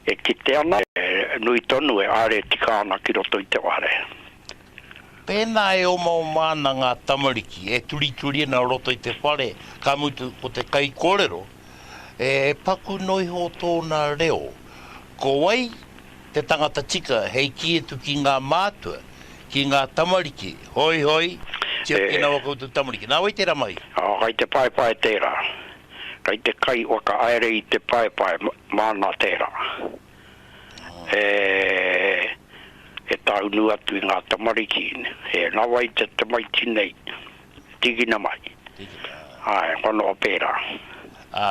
E kite ana, e nui tonu, e are tika ana ki roto i te ware. Pēnā e omaoma ana ngā tamariki, e turituri ana roto i te whare, ka mutu ko te kaikōrero, e paku noa iho tōna reo. Ko wai te tangata tika hei kī atu ki ngā mātua, ki ngā tamariki, Hoi, hoi, tiaki ana ō koutou tamariki. Nā wai tērā mahi? Kai te paepae tērā. Kei te kai whakahaere i te paepae, māna tērā. E tāunu atu i ngā tamariki, e nawa i te tamaiti nei, tīkina mai. Tīkina. Āe, kua noho pērā. Ā,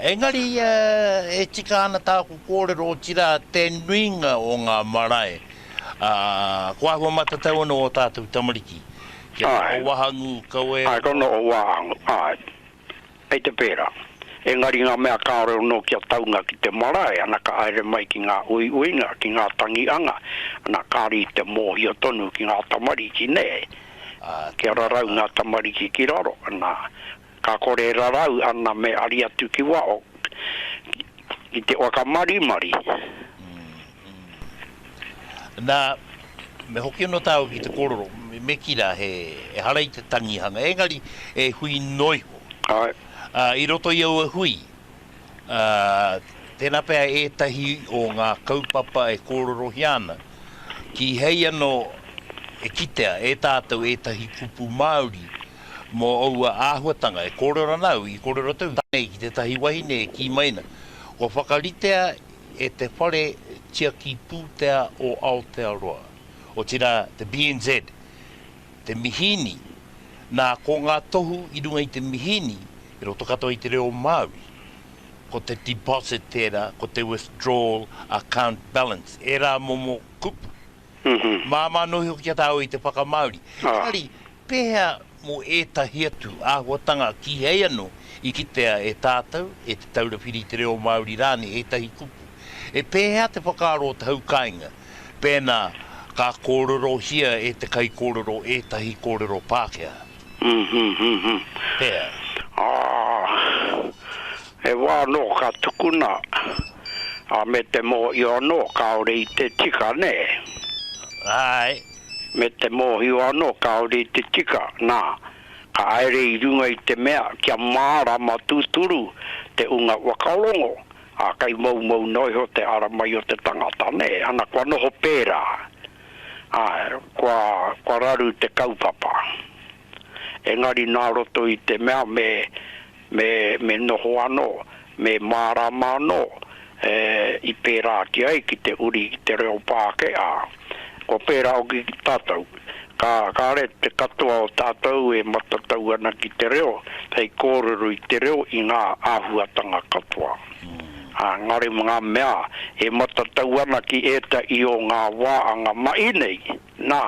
engari e tika ana tāku kōrero, otirā te nuinga o ngā marae, ā, ko āhua matatau anō ō tātou tamariki. Āe. Kia noho wahangū kau e. Āe, kua noho wahangū, āe. Kei te pērā. Engari ngā mea kāore anō kia taunga ki te marae, ana ka haere mai ki ngā uiuinga, ki ngā tangi anga, ana kāre i te mōhio tonu ki ngā tamariki, nē? Kia rarau ngā tamariki ki raro, ana, ka kore e rarau ana me ari atu ki waho, ki te whakamarimari. Nā, me hoki anō tāua ki te kōrero, me kī rā, he, ehara i te tangihanga, engari, he hui noa iho. Āe. Ā, i roto i aua hui, ā, tērā pea ētahi o ngā kaupapa e kōrerohia ana, kīhei anō e kitea e tātou ētahi kupu Māori mō aua āhuatanga e kōrero ana au, i kōrero atu nei ki tētahi wahine e kī mai ana, kua whakaritea e te whare tiaki pūtea o Aotearoa, otirā te BNZ, te mihīni, nā, ko ngā tohu i runga i te mihīni i roto katoa i te reo Māori, ko te deposit tērā, ko te withdrawal account balance, ērā momo kupu. Māmā nohi hoki a tāua i te whakamāori. Engari. Pēhea mō ētahi atu āhuatanga kīhei anō i kitea e tātou, e Te Taura Whiri i te Reo Māori rānei ētahi kupu? He pēhea te whakaaro o te hau kāinga pēnā ka kōrerohia e te kaikōrero ētahi kōrero Pākehā? Pēhea? He wā anō ka tukuna, ā, me te mōhio anō kāore i te tika, nē? Āe. me te mōhio anō kāore i te tika, nā, ka haere i runga i te mea kia mārama tūturu te ūnga whakarongo, ā, kei moumou noa iho te ara mai o te tangata, nē, ana, kua noho pērā, ā, kua, kua raru te kaupapa. engari nā roto i te mea me, me, me noho anō, me mārāma anō e, i pērā ake ai ki te uri i te reo Pākehā. Kua pērā hoki ki tātou. Ka, kāre te katoa o tātou e matatau ana ki te reo, hei kōrero i te reo i ngā āhuatanga katoa. Ā, engari ngā mea e matatau ana ki ētahi o ngā wā anga mahi nei, Nā,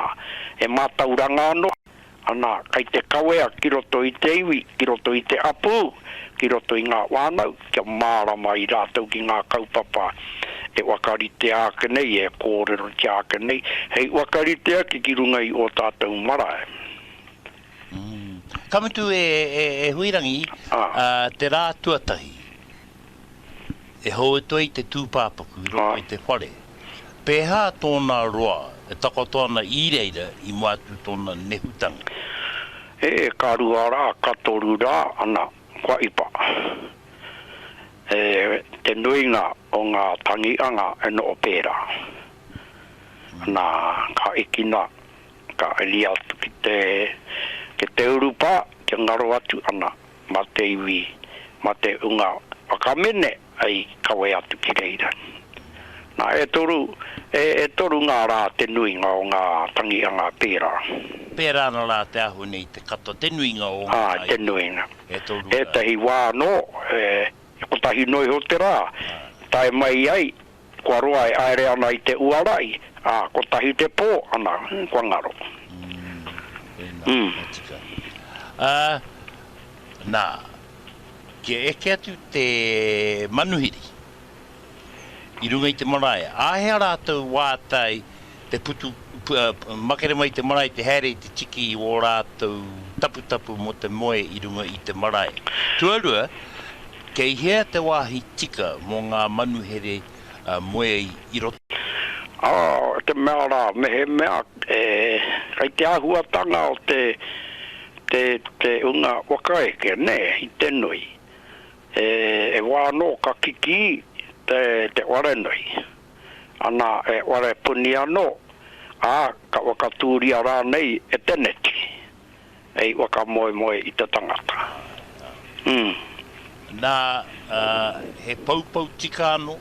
he mātauranga anō, ana kei te kawea ki roto i te iwi, ki roto i te hapū, ki roto i ngā whānau, kia mārama ai rātou ki ngā kaupapa e whakaritea ake nei, e kōrerotia ake nei, hei whakaritea ki runga i ō tātou marae. Ka mutu e Huirangi, te rā tuatahi, e hōutu ai te tūpāpaku i roto i te whare. Pēhā tōna roa e takoto ana i reira i mua atu tōna nehutanga? E, ka rua rā, ka toru rā, ana, kua ipa. E, te nuinga o ngā tangi anga e noho pērā. Nā, ka ikina. Ka iri atu ki te ki te urupā kia ngaro atu ana mā te iwi, mā te unga whakamene hei kawe atu ki reira. Nā, e toru, e, e toru ngā rā te nuinga o ngā tangi a ngā pērā. Pērā ana rā te ahune i te kata, te nuinga o ngā rā. Āe, te nuinga. E toru rā. Ētahi wā anō, e, kotahi noa iho te rā, tae mai ai. Kua roa e haere ana i te uara i, ā, kotahi te pō, ana, kua ngaro. Tēnā, ka tika. Ā, nā, kia eke atu te manuhiri i runga i te marae, āhea rātou wātai? Te putu, makere mai te marae te haere i te tiki i wō rātou taputapu mō te moe i runga i te marae. Tuarua, kei hea te wāhi tika mō ngā manuhere moe i roto? Ā, te mea rā, mehemea kei te āhuatanga o te hunga whakaeke, nē, i te nui, e wā anō ka kikī te wharenui. ana e Warepuni anō, ā, ka whakatūria rānei e teneti hei whakamoemoe i te tangata. Ū. Nā, ā, he poupou tika anō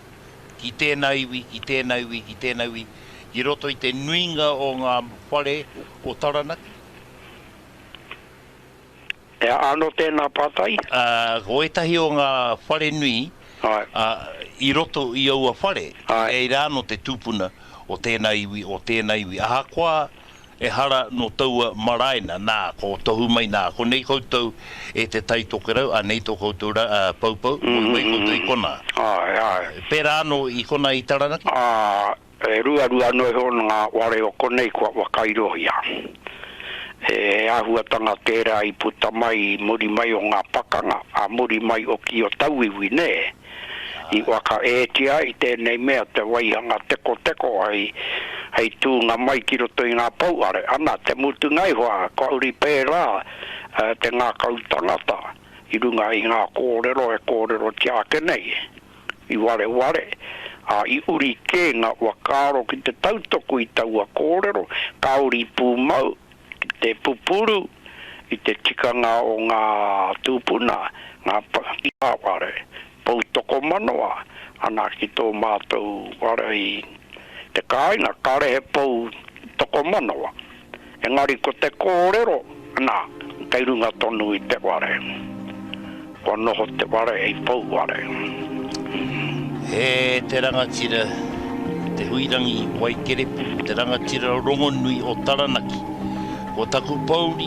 ki tēnā iwi, ki tēnā iwi, ki tēnā iwi, i roto i te nuinga o ngā whare o Taranaki. He aha anō tēnā pātai? Ā, ko ētahi o ngā whare nui, ā, i roto i aua whare, kei reira anō te tūpuna o tēnā iwi, o tēnā iwi, ahakoa ehara nō taua maraena, nā, ko tohu mai, nā, konei koutou e te Tai Tokerau, anei tō koutou ra, ā, poupou, moe mai koutou i konā. Pērā anō i konā i Taranaki. E ruarua ana iho ngā ware o konei kua whakairohia. He āhuatanga tērā i puta mai i muri mai o ngā pakanga, ā muri mai oki o tauiwi, nē? I whakaētia ai tēnei mea te waihanga tekoteko hei, hei tūnga mai ki roto i ngā pouare. Ana, te mutunga iho, kua uri pērā te ngākau tangata i runga i ngā kōrero e kōrerotia ake nei. I wareware, ā, i uri kē ngā whakaaro ki te tautoko i taua kōrero, ka uri pūmau ki te pupuru i te tikanga o ngā tūpuna, ngā pakihiware, pou tokomanoa, ana ki tō mātou wārai i te kāinga, kāre he pou tokomanoa. Engari ko te kōrero, nā, kei runga tonu i te ware. Kua noho te ware hei pou ware. E te rangatira Te Huirangi Waikerepu, te rangatira rongonui o Taranaki, ko taku pouri,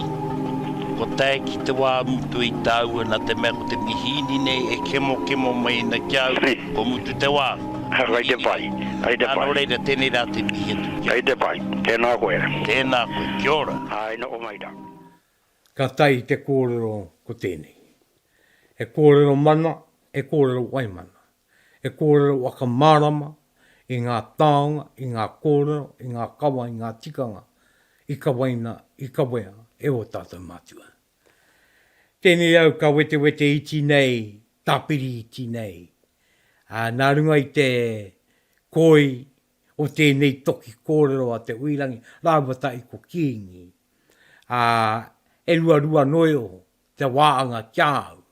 kua tae ki te wā mutu i tāua nā te mea ko te mihīni nei e kemokemo mai ana ki a au, kua mutu te wā. He aha te whai? Hei te whai. Nā, nō reira, tēnei rā te mihi atu ki a koe. Hei te whai. Tēnā koe. Tēnā koe. Kia ora. Āe, noho mai rā. Ka tae te kōrero ko tēnei. He kōrero mana, he kōrero waimana. He kōrero whakamārama i ngā taonga, i ngā kōrero, i ngā kawa, i ngā tikanga i kawaina, i kawea e ō tātou mātua. Tēnei au ka wetewete iti nei, tāpiri iti nei. Ā, nā runga i te koi o tēnei toki kōrero a Te Uirangi rāua tahi ko Kīngi, ā, e ruarua noio te wāanga ki a au.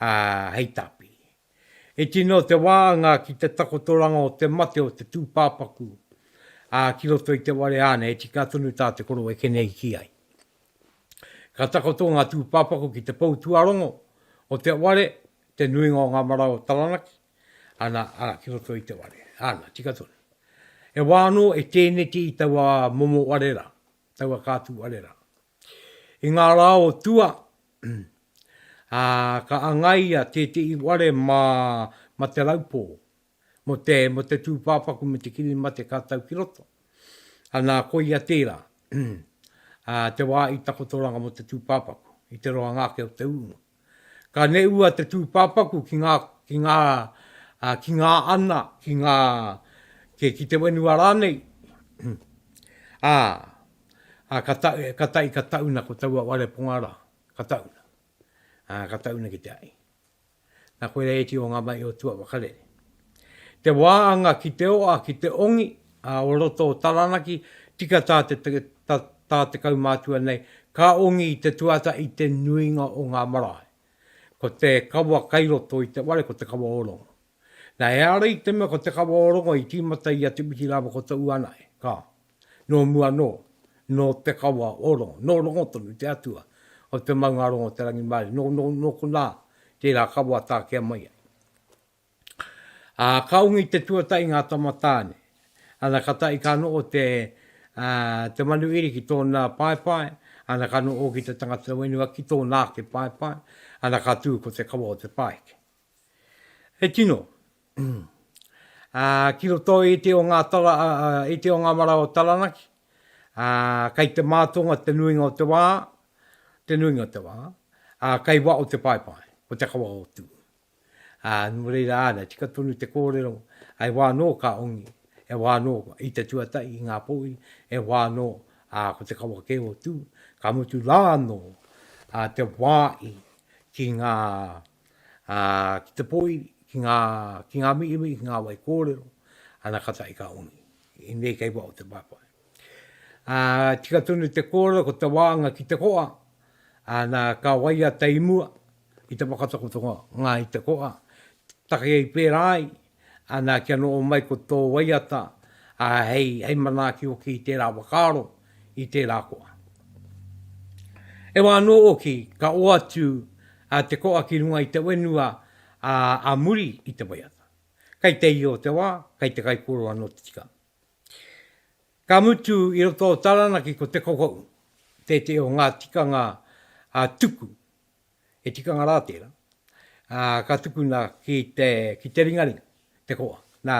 ā, hei tāpiri. I tino te wānga ki te takotoranga o te mate o te tūpāpaku, ā, ki roto i te ware āna e tika tonu tā te koro e keneiti ai. Ka takoto ngā tūpāpaku ki te pou tuarongo o te ware, te nuinga o ngā marae o Taranaki, ana, ā, ki roto i te ware āna, tika tonu. E wā anō e tēneti i taua momo ware rā, taua kātū ware rā. I ngā rā o tua, ā, ka angaia tētehi ware mā, mā Te Raupō, mō te, mō te tūpāpaku me te kiri mate ka tau ki roto. Anā, koia tērā, ā, te wā i takotoranga mō te tūpāpaku, i te roanga ake o te ūnga. Ka neua te tūpāpaku ki ngā, ki ngā, ā, ki ngā ana, ki ngā, kē, ki te whenua rānei, ā, ā, ka ta, ka tae, ka tauna ko taua wareponga rā, ka tauna, ā, ka tauna ki te ai. Nā koira e tio ngā mahi o tua whakarere. Te wāanga ki te oa, ki te ongi, ā, o roto o Taranaki, tika tā te tā te kaumātua nei, ka ongi i te tuata i te nuinga o ngā marae. Ko te kawa kai roto i te ware ko te kawa o rongo. Na, ehara i te mea ko te kawa o rongo i tīmata i a Te Witi rāua ko Te Uanae, ka. Nō mua anō, nō te kawa o rongo, nō rongo tonu te atua o te maunga rongo o te rangimārie, nō, nō, nō konā tērā kawa tākea mai ai. Ā, ka ongi te tuatahi ngā tama tāne. Ana, ka tahi ka noho te, ā, te manu iri ki tōna paepae, ana, ka noho hoki te tangata whenua ki tōna ake paepae, ana, ka tū ko te kawa o te pāheke. He tino, ā, ki roto i te o ngā tara, ā, i te o ngā marae o Taranaki, ā, kei te mātonga te nuinga o te wā, te nuinga o te wā, ā, kei waho te paepae, ko te kawa o Tū. Ā, nō reira āna, tika tonu te kōrero, e wā anō ka ongi, e wā anō i te tuatahi, i ngā pōuri, e wā anō, ā, ko te kawa kē o Tū, ka mutu rā anō te wāhi ki ngā, ā, ki te pōuri, ki ngā, ki ngā mihi, ki ngā wai kōrero, ana katahi ka ongi. Inei kei waho te whawhai. Ā, tika tonu te kōrero ko te wānga ki te koa, ā, nā, ka waia te imua i te whakatakoto o Ngāi Te Koa, takea i pērā ai, ā, nā, kia noho mai ko tō waiata, ā, hei, hei manaaki hoki i tērā whakaaro, i tērā koa. E wā anō hoki, ka oatu, ā, te koa ki runga i te whenua, ā, ā muri i te waiata. Kei te iho te wā, kei te kaikōrero anō te tikanga. Ka mutu i roto o Taranaki ko Te Kokou tētehi o ngā tikanga tuku, he tikanga rā tērā, ka tukuna ki te ringaringa, te koa. Nā,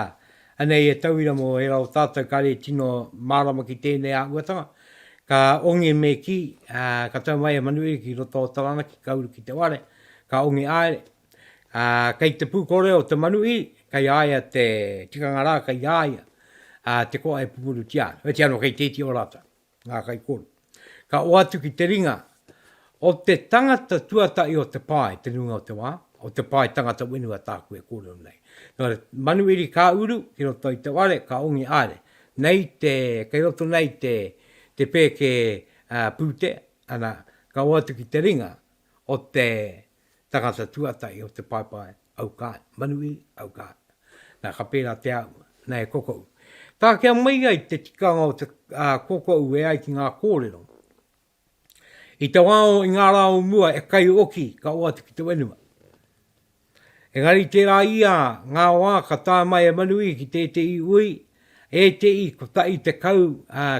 anei e tauira mō ērā o tātou kare e tino mārama ki tēnei āhuatanga, ka ongi me kī, ka tau mai e Manuhiri ki roto o Taranaki, ka uru ki te ware, ka ongi haere, Ā, kei te pūkore o te manuhī, kei a ia te tikanga rā, kei a ia te koa e pupurutia ana. Oiti anō kei te iti o rātou, ngā kaikōrero. Ka oatu ki te ringa o te tangata tuatahi o te pae te nuinga o te wā, o te pae tangata whenua tāku e kōrero nei. Nō reira, manuhiri ka uru ki roto i te ware, ka ongi haere. Nei te, kei roto nei te, te pēke pūtea, ana, ka oatu ki te ringa o te tangata tuatahi o te paepae, au kai, Manuhiri, au kai. Na, ka pērā te au, na e kokou. Takea mai ai te tikanga o te kokou e ai ki ngā kōrero. I te wā o, i ngā rā o mua, e kai oki, ka oati ki te whenua. Engari tērā ia, ngā wā ka tae mai e Manuhiri ki tētehi ui, ētehi kotahi tekau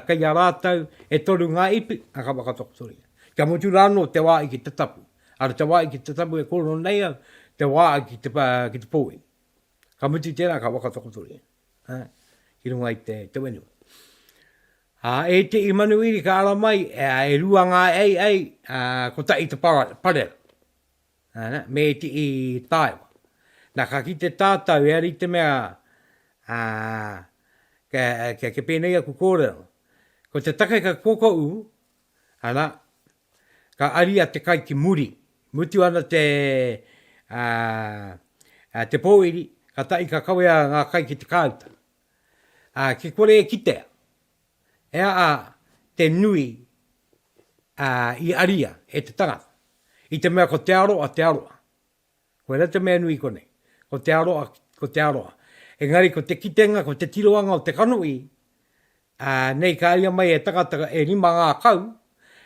kei a rātou, e toru ngā ipu, na ka whakatakotoria. Kia mutu rānō te wā i ki te tapu. Ara te wā i ki te tapu e kōrero nei au, te wā i ki te, ki te pōwhiri. Ka mutu i tērā ka whakatakotoria ha, ki runga i te, te whenua. A, e te i manuiri ka ara mai, e, e rua ngā ei ei, a, ko ta i te parera. Ana, me te i tāewa. Na ka ki te tātau, e ari te mea, a, ke, ke, ke pēnei aku kōrero. Ko te take ka koko u, ana, Ka aria te kai ki muri. Mutu ana te a te pōiri, ka taʻi ka kawea ngā kai ki te kāuta. A ki kore e kitea, he aha te nui a i aria e te tangata, i te mea ko te aroa te aroa. Koirā te mea nui konei. Ko te aroa, ko te aroa. Engari ko te kitenga, ko te tiroanga o te kanohi, ā, nei ka aia mai e tangata e rima ngā kau,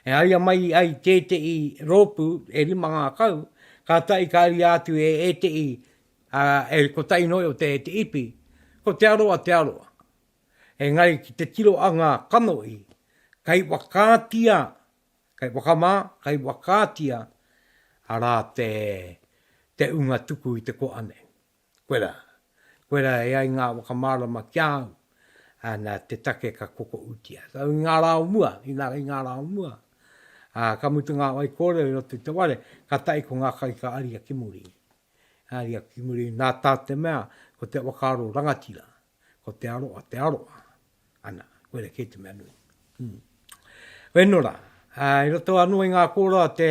e aia mai ai tētehi rōpū e rima ngā kau, kātahi ka aria atu e ētehi, ā, e kotahi noa iho te, te ipi. Ko te aroa, te aroa. Engari ki te tiroanga kanohi, kei whakaatia Kei whakamā, kei whakaatia, arā te, te unga tuku i te koa nei. Koe rā. Koe rā e ai ngā whakamārama ki a au, ā, nā te take ka kokoutia. So, i ngā rā o mua, inā, i ngā rā o mua, ā, ka mutu ngā whaikōrero i roto i te ware, kātahi ko ngā kai ka aria ki muri. Aria ki muri, nā tā te mea, ko te whakaaro rangatira, Ko te aroa, te aroa. Ana, koira kei te mea nui. Mm. Weno rā, i roto anō i ngā kōrero a te,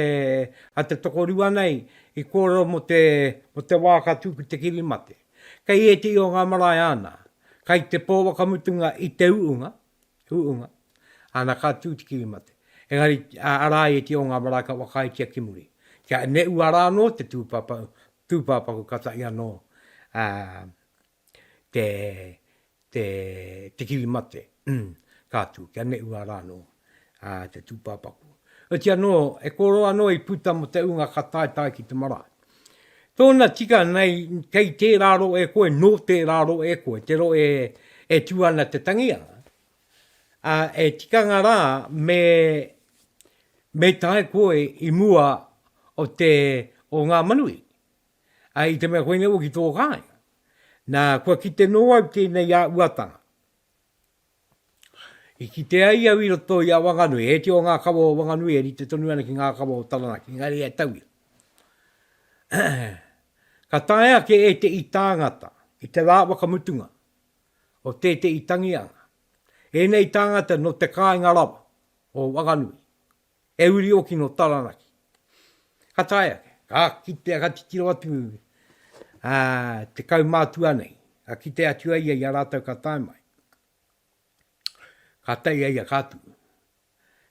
a te tokorua nei, i kōrero mo te, mo te wā ka tū ki te kiri mate. Kei ētehi o ngā marae āna, kai te pō wakamutunga i te uunga, uunga, āna ka tū te kiri mate. Engari, arā i ētehi o ngā marae ka whakaaetia ki muri. Kia ne ua rā anō te tūpāpaku, tūpāpaku ka tahi anō, ā, te, te, te kiri mate, ka atu, kia neʻua rā nō a, te tūpāpaku. Oiti anō, e kōrō anō i puta mō te ūnga ka taetae ki te marae. Tōna tika nei, kei tērā roe e koe, nō tērā roe e koe, te roe e, e tū ana te tangi a, a, e tikanga rā me, me tae koe i mua o te, o Ngāmanuī. ā, i te mea koinei hoki tō kāinga, nā, kua kite nō au tēnei āhuatanga. I kite ai au i roto i a Wanganui, he tio ngā kawa o Wanganui e rite tonu ana ki ngā kawa o Taranaki, engari e tauira. ka tae ake e te i tāngata, i te rā wakamutunga, o tētehi tangi anga. Ēnei tāngata nō te kāinga rawa, o Wanganui. He uri oki nō Taranaki. Ka tae ake, ka kitea, ka titiro atu te kaumātua nei, ka kite atu ai ia i a rātou ka tae mai. Ka tae ia i a Kātū.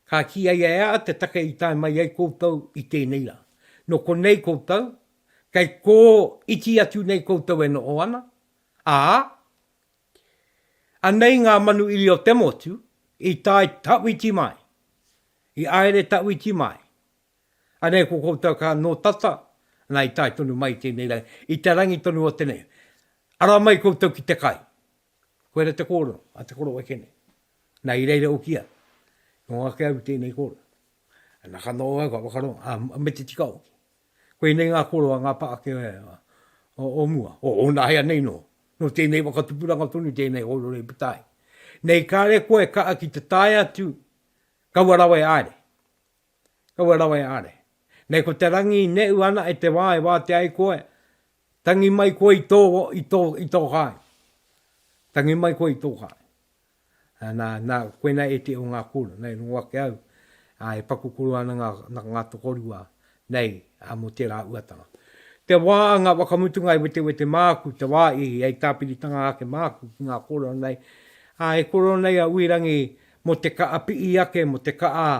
Ka kī ai e a te take i tae mai ai koutou i tēnei rā. Nō konei koutou, kei kō iti atu nei koutou e noho ana, ā, Anei ngā manu iri o te motu i tae tawhiti mai, i aere tawhiti mai. Anei ko koutou ka no tata, na i tae tonu mai i tenei rangi, i te rangi tonu o tenei. Ara mai koutou ki te kai. Koera te korono a te koroua kene. Na i reira ukia, ko nga ke au tenei korono. Na ka no au ka whakarongo, a me te tika oki. Koinei ngā koroa, ngā pākehā o mua, o ōna hea nei nō. Nō tēnei whakatupuranga tonu tēnei hōrore patahi. Nei kāre koe kaa ki te tae atu, kaua rawa e aare. Kaua rawa e aare. Nei ko te rangi i neʻu ana e te wā e wātea ai koe, tangi mai koe i tō, i tō, i tō kāinga. Tangi mai koe i tō kāinga. Nā, nā, koinā e te o ngā kōrero, nei rongo ake au, ā, e paku kōrero ana ngā, ngā tokorua nei, ā, mō tērā uatanga. Te wā a ngā whakamutunga e wetewete māku, te wā i hei tāpiritanga ake māku ki ngā kōrero nei, ā, e kōrero nei a Uirangi mō te kaha piʻi ake, mō te kaha,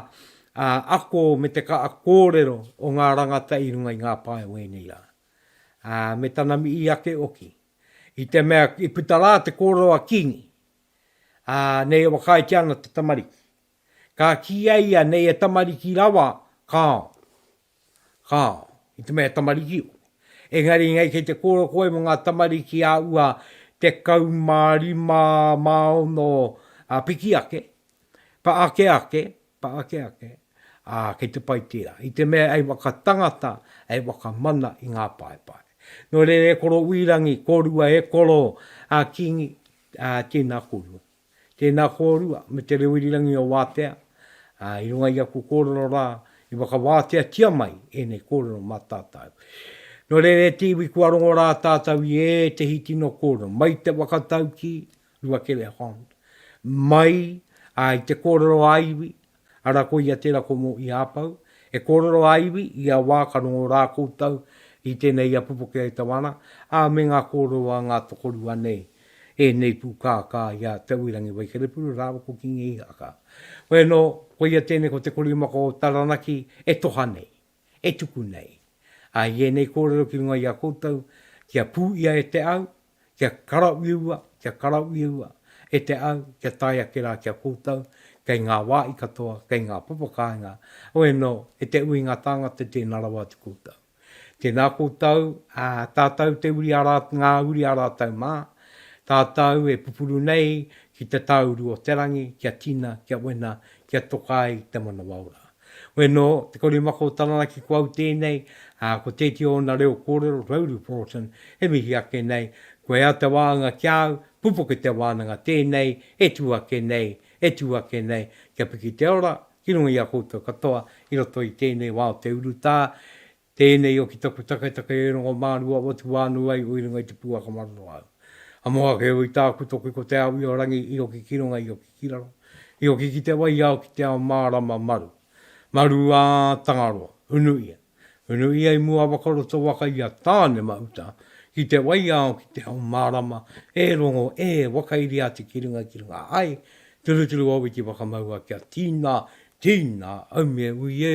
ā, ako me te kaha kōrero o ngā rangata i runga i ngā pae o ēnei rā, ā, me tana mihi ake oki. I te mea i puta rā te kōrero a Kīngi, ā, nei e whakaaetia ana te tamariki. Ka kī a ia, Nei e tamariki rawa, kāo. Kāo. I te mea e tamariki ō. Engari nei kei te kōrero koe mō ngā tamariki ā ua 15 mā ono piki ake, pa ake ake, Pa ake ake, ā, kei te pai tērā, i te mea hei whakatangata, hei whakamana i ngā paepae. Nō reira e koro Wīrangi, kōrua e koro a Kīngi, ā, tēnā kōrua. Tēnā kōrua me Te Rewirirangi o Wātea, ā, i runga i aku kōrero rā, i whakawāteatia mai ēnei kōrero mā tātau. Nō reira e te iwi kua rongo rā tātau i ētehi tino kōrero, mai te whakataukī, Rua Kele Hond, mai a i te kōrero a iwi, ara koia tera ko mo i apau, e kōrero a iwi i a wā ka rongo rā koutou i tēnei ia pupuke e tau ana, a me ngā kōrero a ngā tokorua nei, ēnei pūkākā i a Te Uirangi Waikerepuru rāua ko Kingi Ihaka. Koia no, koia tēnei ko te korimako o Taranaki e toha nei, e tuku nei. A i ēnei kōrero ki runga i a koutou, kia pū ia e te au, kia karauiua, kia karauiua, e te au, kia tae ake rā ki a koutou, kei ngā wāhi katoa, kei ngā papa kāinga, oē nō, e te ui ngā tāngata tēnā rawa atu koutou. Tēnā koutou, ā, tātou te uri a rā, ngā uri a rātou mā, tātou e pupuru nei ki te tāuru o te rangi, kia tina, kia wena, kia toka ai te manawa ora. Koe nō, te korimako o Taranaki ko au tēnei, ā, ko tētehi o ōna reo kōrero, Rhodey Forson, e mihi ake nei, kua ea te wānanga ki a au, pupuke te wānanga tēnei, e tū ake nei, e tū ake nei, kia piki te ora, ki runga i a koutou katoa, i roto i tēnei wā o te urutā, Tēnei o ki taku taketake e rongo mā rua watu wā nū ai o i runga i te pūaka mararo au. A moha kē oi tāku toki ko te ao i o rangi i oki ki runga i oki ki raro, i oki ki te wai ao ki te ao mārama maru. Maru ā Tangaroa, unu ia. Unu ia i mua waka roto waka i a Tānemauta ki te wai ao ki te ao mārama e rongo e wakairiati ki runga ki runga ai turuturu o wiki whakamaua kia tīna, tīna, aume, ui e,